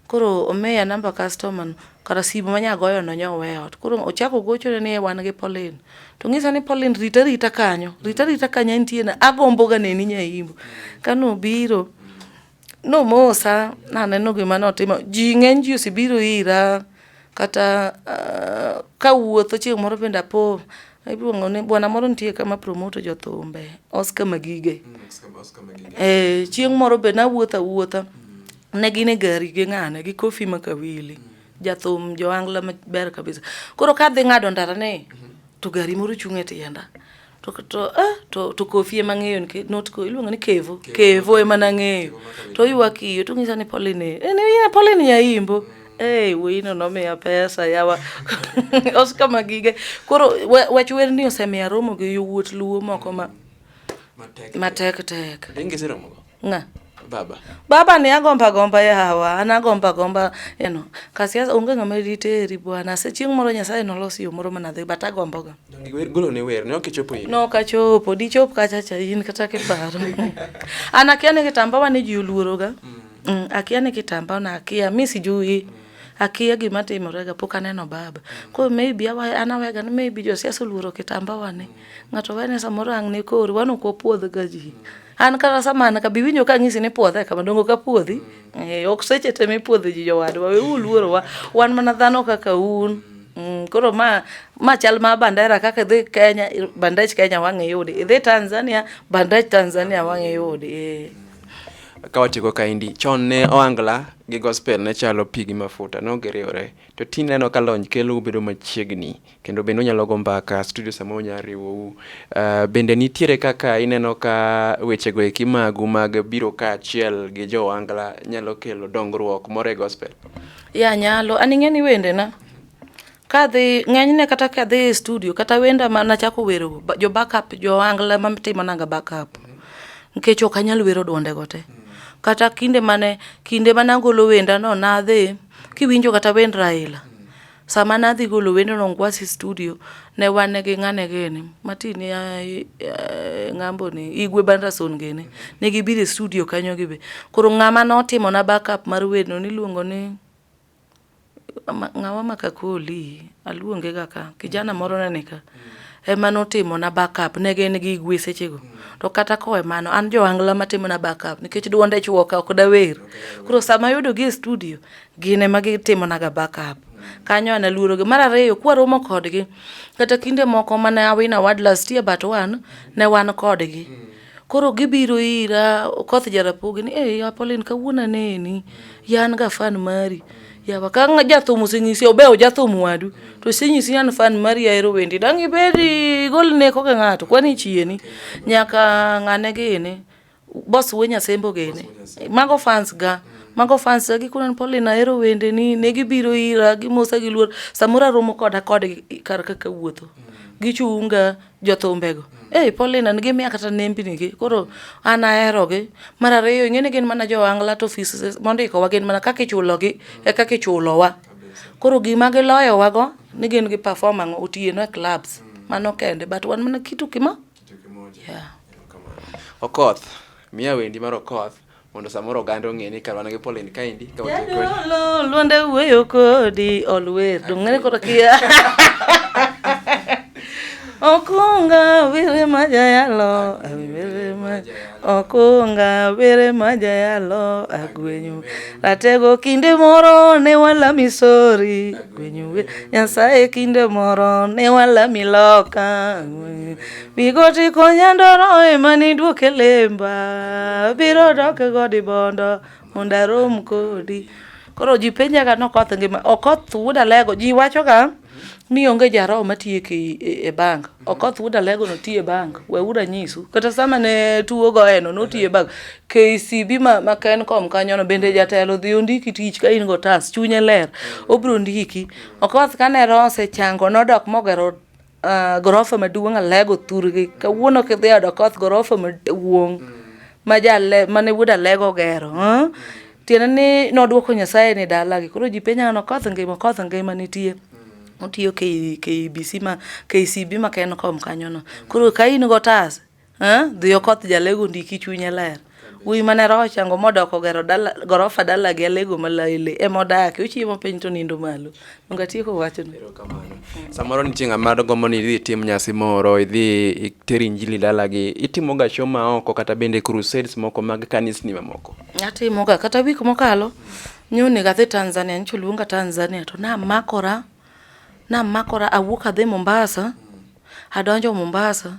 Koro omiya namba customer no, kara simu ma nyagoyono nyowe e ot. Koro ochako ogochone ni e wan gi Pauline, to ong'ise ni Pauline rita rita kanyo, rita rita kanyo antie na agomboga neni nya Imbo. Kanobiro. Nomosa, naneno gima notimo. Ji ng'eny ji osebiro ira kata uh, ka wuotho chieng' moro bende apo iluongo ni bwana moro nitie kama promoto jothumbe Oscar Magige. Mm, Oscar Magige. Eh, chieng' moro be nawuotho awuotha. Mm. Ne gin e gari gi ng'ane gi Kofi Makawili. Mm. Jathum Joangla maber kabisa. Koro kadhi ng'ado ndara ni mm-hmm. to gari moro chung' e tienda. to to ah, to to kofi ema ng'eyo nike- not ko iluongo ni kevo kevo ema nang'eyo to ywak iyo to ng'isa ni polini eh, ni ya polini yaimbo Hey, wino nomiya pesa yawa osika magige koro wa- wach wer ni osemiya romo gi yowuot luo moko ma matek tek Ringi siromogo. Nga. Baba. Baba ni agomba gomba ya hawa, ana gomba gomba, you know. Kasi ya unga ngame rite eri bwana, se chieng moro nyasaye no losi umoro mana dhe, but agomba ga. Gulo ni wer, no kichopo yin. No kachopo, di chop kacha cha yin kata ke paro. Ana kia ni kitamba wa ni jiuluoro ga. Mm. Mm, akia ni kitamba na akia, mi sijui. Mm. akia gima timorega pok aneno baba koro maybe awaya an awega ni maybe josiasa oluoro kitamba wani mm. Ng'ato wene samoro ang' ne kori, wan ok wapuodh ga ji. An kata sama an ka bi winjo ka ang'isi ni puodhe kama dongo ka puodhi. Eh, ok seche te mipuodho ji jowadwa, we uluorowa. Wan mana dhano kaka un. Mm, koro ma ma chal ma bandera kaka idhi Kenya, bandech Kenya wang' iyudi. Idhi Tanzania, bandech Tanzania wang' iyudi. Eh. ka watieko kaendi chon ne oangla gi gospel ne chalo pi gi mafuta ne ok giriwore to tinde aneno ka lony kelo ubedo machiegni kendo bende unyalo go mbaka studio sama unya riwou. Uh, bende nitiere kaka ineno ka wechego eki magu mag biro kaachiel gi jo Wangla nyalo kelo dongruok moro e gospel? Ya nyalo, an ing'eni wendena kadhi ng'enyne kata kadhi e studio kata wenda ma nachako wero jo backup jo Wangla ma timonanga backup nikech ok anyal wero dwondego te. Kata kinde mane kinde mane agolo wendano nadhi kiwinjo kata wend Raila Sama nadhi golo wendo no Ngwasi studio, ne wan gi ng'ane gini, mati ni eh, ng'ambo ni, Igwe Banderson gini. Ne gibiro e studio kanyo gibe. Koro ng'ama notimo na backup mar wendo niluongo ni ng'awa makakoli, aluonge ga ka, kijana moro ne nika. Mm. Ema notimo na backup, ne gin gi Igwe sechego. Mm. To kata kowe mano, an jo angla matimo na backup, nikech duonde chuoka, ok dawer. Koro sama ayudo gi e studio, gin ema gitimonaga backup kanyo ana luorogi mar ariyo kwaromo kodgi kata kinde moko mane awin award last year but one ne wan kodgi koro gibiro ira okoth jarapogi ni hey, apolin kawuono aneni yan ga fan mari yawa ka jathum osenyisi obewo jathum wadu to senyisi an fan mari ahero wendi dang' ibedi gol neko ka ng'ato kwani chieni nyaka ng'ane gini Boss we nyasembo gene. Mago fans ga. Mago fans ga gikunan pole na ero wende ni ne gibiro ira gi mosa gi luor samora romo koda kod kar kaka wuotho. Gichunga jothumbe go. Eh pole na ngi miya kata nembi ni gi. Koro an ahero gi. Mar ariyo ingene gin mana jo angla to offices mondiko wa gin mana kaka ichulo gi e kaka ichulo wa. Koro gima giloyo wa go ni gin gi perform ango otieno e clubs. Mano kende but wan mana kitu kima. Okoth, miya wendi mar Okoth mondo samoro oganda ong'e ni karwana gi Pauline kaendi ka Jadolo luonde wuoyo kodi olwer dong'ere koro kia Okunga wire majayalo wire majayalo Okunga bere majayalo agwenyu ratego kinde moro ne walami sori agwenyu nyasaye kinde moro ne walami loka bigoti konyandoro ema niduoke lemba biro doke godi bondo mondo arom kodi Koro ji penjaga ni Okoth ngima. Okoth wuod Alego, ji wachoga ni onge jaroho matiyo e, e bank. Okoth wuod Alego notiyo e bank, weuru anyisu. Kata sama ne tuo goyeno notiyo e bank. KCB ma, ma Kencom kanyono bende jatelo dhi ondiki tich ka in go tas, chunye ler, obiro ndiki. Okoth kane roho osechango nodok mogero uh, gorofa maduong' alego thurgi kawuono kidhi od okoth gorofa maduong' mm. ma jale mane wuod alego ogero huh? tiende ni nodwoko nyasaye ni dalagi koro ji penyo an okoth ngima okoth ngima nitie mm. otiyo KBC ma KCB ma Kencom kanyono koro ka in gotas Eh, dhiyo koth jalego ndiki chunye ler. Wuoyi mane roho chango modoko gero dala, gorofa dala gi alego malaile ema odake. Ochiemo piny to nindo malo. Donge atieko wachno? Samoro nitie ng'ama gombo ni idhi itim nyasi moro, idhi iter injili dalagi. Itimoga show ma oko kata bende crusades moko mag kanisni mamoko. Atimoga kata wik mokalo nyonego adhi Tanzania, nyicha oluonga Tanzania to namakora namakora awuok adhi Mombasa Adonjo Mombasa,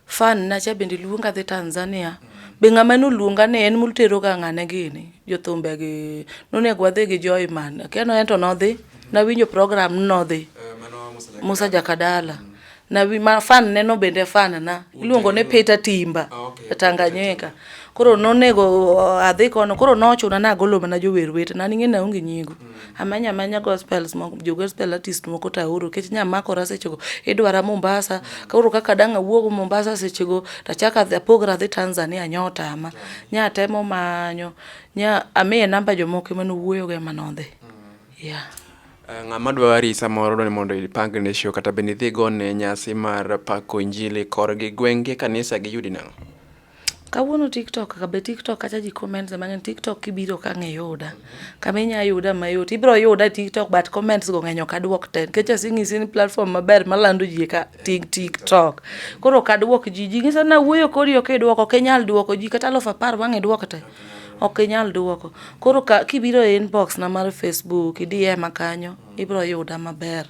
fan na cha bende luonga dhi Tanzania. Be ng'ama noluonga ni en motero ga ng'ane gini jothumbe gi nonego wadhi gi Joy Man. Akia no ento nodhi, nawinjo program nodhi. Eh, Musa Jakadala. Mm. Na wi ma fan ne no bende fan na. Iluongo ne Peter Timba. Ah, e Tanganyika. Koro nonego uh, adhi kono, koro nochuna nagolo mana jower wete, na ning'e na onge nyiego. Mm. Amanya amanya gospels moko jo gospel artist moko to aoro kech nya makora sechego idwara Mombasa koro kaka dang' awuog Mombasa sechego tachaka apogra adhi Tanzania nya otama nya atemo manyo nya amiye namba jomoko ema nowuoyogo ema nodhi yeah. Eh, ng'ama dwa wari samoro dwani mondo ipang ne show kata bende idhi gone nyasi mar pako injili korgi gwenge kanisa giyudi nang'o Kawuono tiktok ka be tiktok kacha ji comments mang'eny tiktok kibiro ka ng'e yuda kama inya yuda mayot ibiro yuda e tiktok but comments go ng'eny ok adwok te nikech asing'isi ni platform maber malando ji ka tik tiktok koro ok adwok ji ji ng'isa ni awuoyo kodi ok idwoko ok inyal dwoko ji kata alufu apar wang' idwok te ok inyal dwoko koro ka kibiro e inbox na mar facebook idi ema kanyo ibiro yuda maber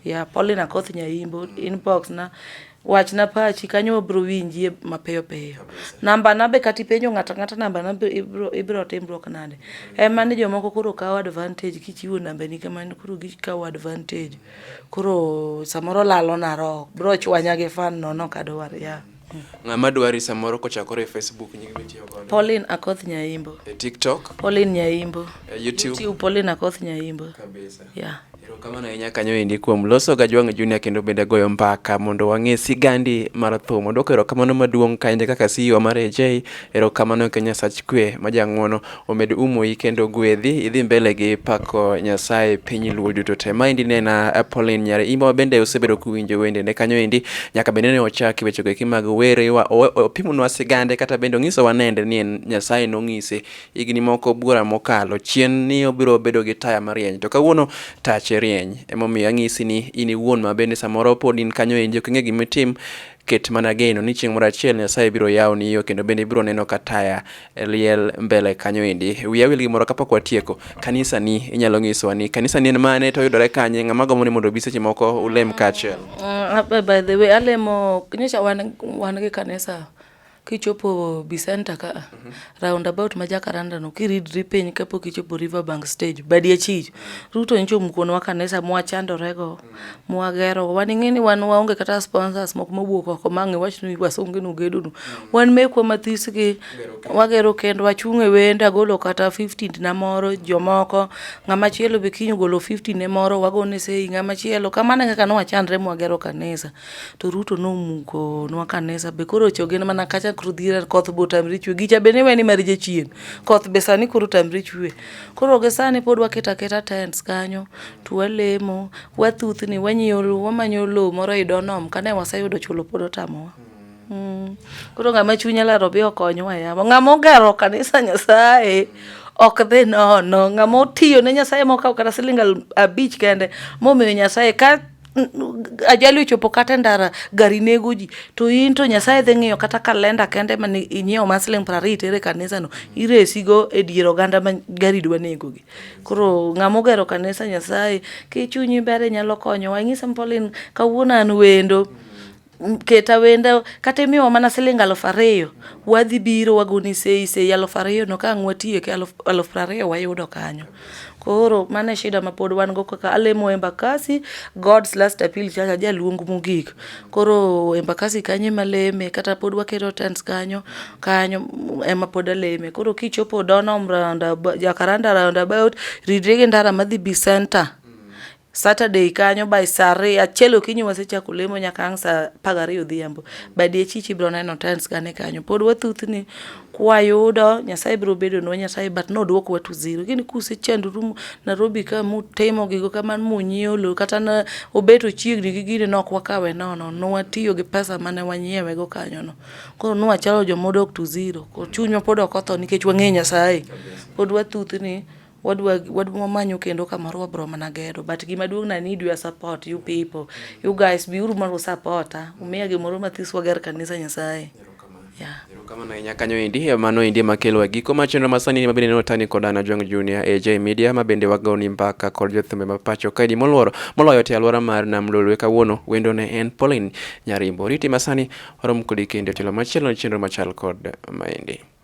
yeah Paulina Akoth Nyaimbo inbox na Wachna pachi kanyo wabro winjie mapiyo piyo. Namba na be kata ipenjo ng'ato ang'ata namba na be ibro ibro timruok nade. Ema ni jomoko koro kawo advantage kichiwo namba ni kamano koro gikawo advantage. Koro samoro lalo na roho bro chwanya gi fan no no kadwar ya. Ng'ama dwari samoro kochakore e Facebook nyingi mitiyo godo. Pauline Akoth Nyaimbo. E TikTok. Pauline Nyaimbo. E YouTube. YouTube Pauline Akoth Nyaimbo. Kabisa. Yeah. Erokamano ahinya kanyo endi kuom loso ga Jwang' Junior kendo bende goyo mbaka mondo wang'e sigandi mar thum. Odwoko erokamano maduong' kaende kaka CEO mar AJ. Erokamano ka Nyasach kwe ma jang'wono omed umoi kendo gwedhi idhi mbele gi pako Nyasaye piny luo duto te. Maendi ne en ah, Pauline Nyare Imba bende osebedo kuwinjo wende ne kanyo endi nyaka bende ne ochaki wechego eki mag were wa- o- o- opimonwa sigande kata bende ong'isowa nende ni en Nyasaye nong'ise higni moko buora mokalo chien ni obiro bedo gi taya marieny to kawuono tache rieny emomiyo ang'isi ni in iwuon ma bende samoro pod in kanyo endi ok ing'e gima itim ket mana geno ni chieng' moro achiel nyasaye biro yawoni yo kendo bende ibiro neno ka taya liel mbele kanyo endi wiya wil gimoro kapok watieko kanisa ni inyalo nyisowa ni kanisa ni en mane to oyudore kanye ng'ama gombo ni mondo obi seche moko ulem kaachiel Mm, ah, by the way alemo nyocha wan wan gi kanisa Kichopo Bisenta ka, mm -hmm. round about ma Jacaranda no kiridri piny kapok ichopo Riverbank stage, badi achich. Ruto nyicho mukonwa kanisa mwachandore go, mm -hmm. mwagero. Wan ing'e ni wan waonge kata sponsors moko mowuok oko ma ng'e wach ni wasonge no gedo no. Mm -hmm. Wan mekwa mathis gi wagero kendo wachung' e wende agolo kata 15 na moro jomoko ng'ama chielo be kinyo golo 15 ne moro wagone sei ng'ama chielo kamano kaka no wachandre mwagero kanisa. to Ruto nomuko nwa kanisa be koro choge mana kacha koro dhier koth bo tamri chwe gicha be ni weni mar jachien koth be sani koro tamri chwe koro ge sani pod waketa keta tents kanyo to walemo wathuthni wanyolo wamanyo lo moro i donom kane waseyudo chulo pod otamowa mm. koro ng'ama chunya laro bi okonywa yamo ng'ama ogero kanisa nyasaye ok dhi nono ng'ama otiyo ne nyasaye mokawo kata siling abich kende momiyo nyasaye ka ajali ochopo kata e ndara gari nego ji to in to nyasaye dhi ng'iyo kata kalenda kende ma inyiewo ma siling' piero ariyo itere kanisano iresigo e dier oganda ma gari dwa negogi koro ng'ama ogero kanisa nyasaye kichunyi ber inyalo konyowa inyisa ni Pauline kawuono an wendo keta wenda kata imiwa mana siling aluf ariyo wadhi biro wagoni sei sei aluf ariyo no ka ang' watiyo ke aluf, aluf prariyo wayudo kanyo koro mane shida ma pod wan go kaka alemo embakasi god's last appeal chacha jaluong mogik koro embakasi kanyo ema leme kata pod waketo tents kanyo kanyo ema pod aleme koro kichopo donom round jakaranda round about ridre gi ndara madhi bi center Saturday kanyo by saa ariyo achiel okinyi wasechako lemo nyaka ang' saa apar gariyo odhiambo by diechich ibiro neno times gane kanyo pod wathuthni kwayudo nyasaye biro bedonwa nyasaye but nodwokwa to zero gini kusechandru nairobi ka mutimo gigo kamano munyiewo lo kata na obeto chiegni gi gini nok wakawe nono nwatiyo gi pesa mane wanyiewego kanyono koro nwachalo jomodok to zero chunywa pod ok otho nikech wang'eyo nyasaye pod wathuthni wadwa wadwa wamanyu kendo kamoro wabro mana gedo but gima duong na need your support you people you guys be uru mondo supporta umiya gimoro mathis wager kanisa nyasaye yeah kamano inya kanyo endi e mano endi ema kelo e giko mar chenro masani ni mabende neno tani kod Anna Jong Junior AJ Media mabende wagoni mbaka kod jothumbe ma pacho kaidi moluoro moloyo te alwora mar Nam Lolwe kawuono wendo ne en Pauline Nyarimbo riti masani warom kodi kendo telo machielo chenro machal kod maendi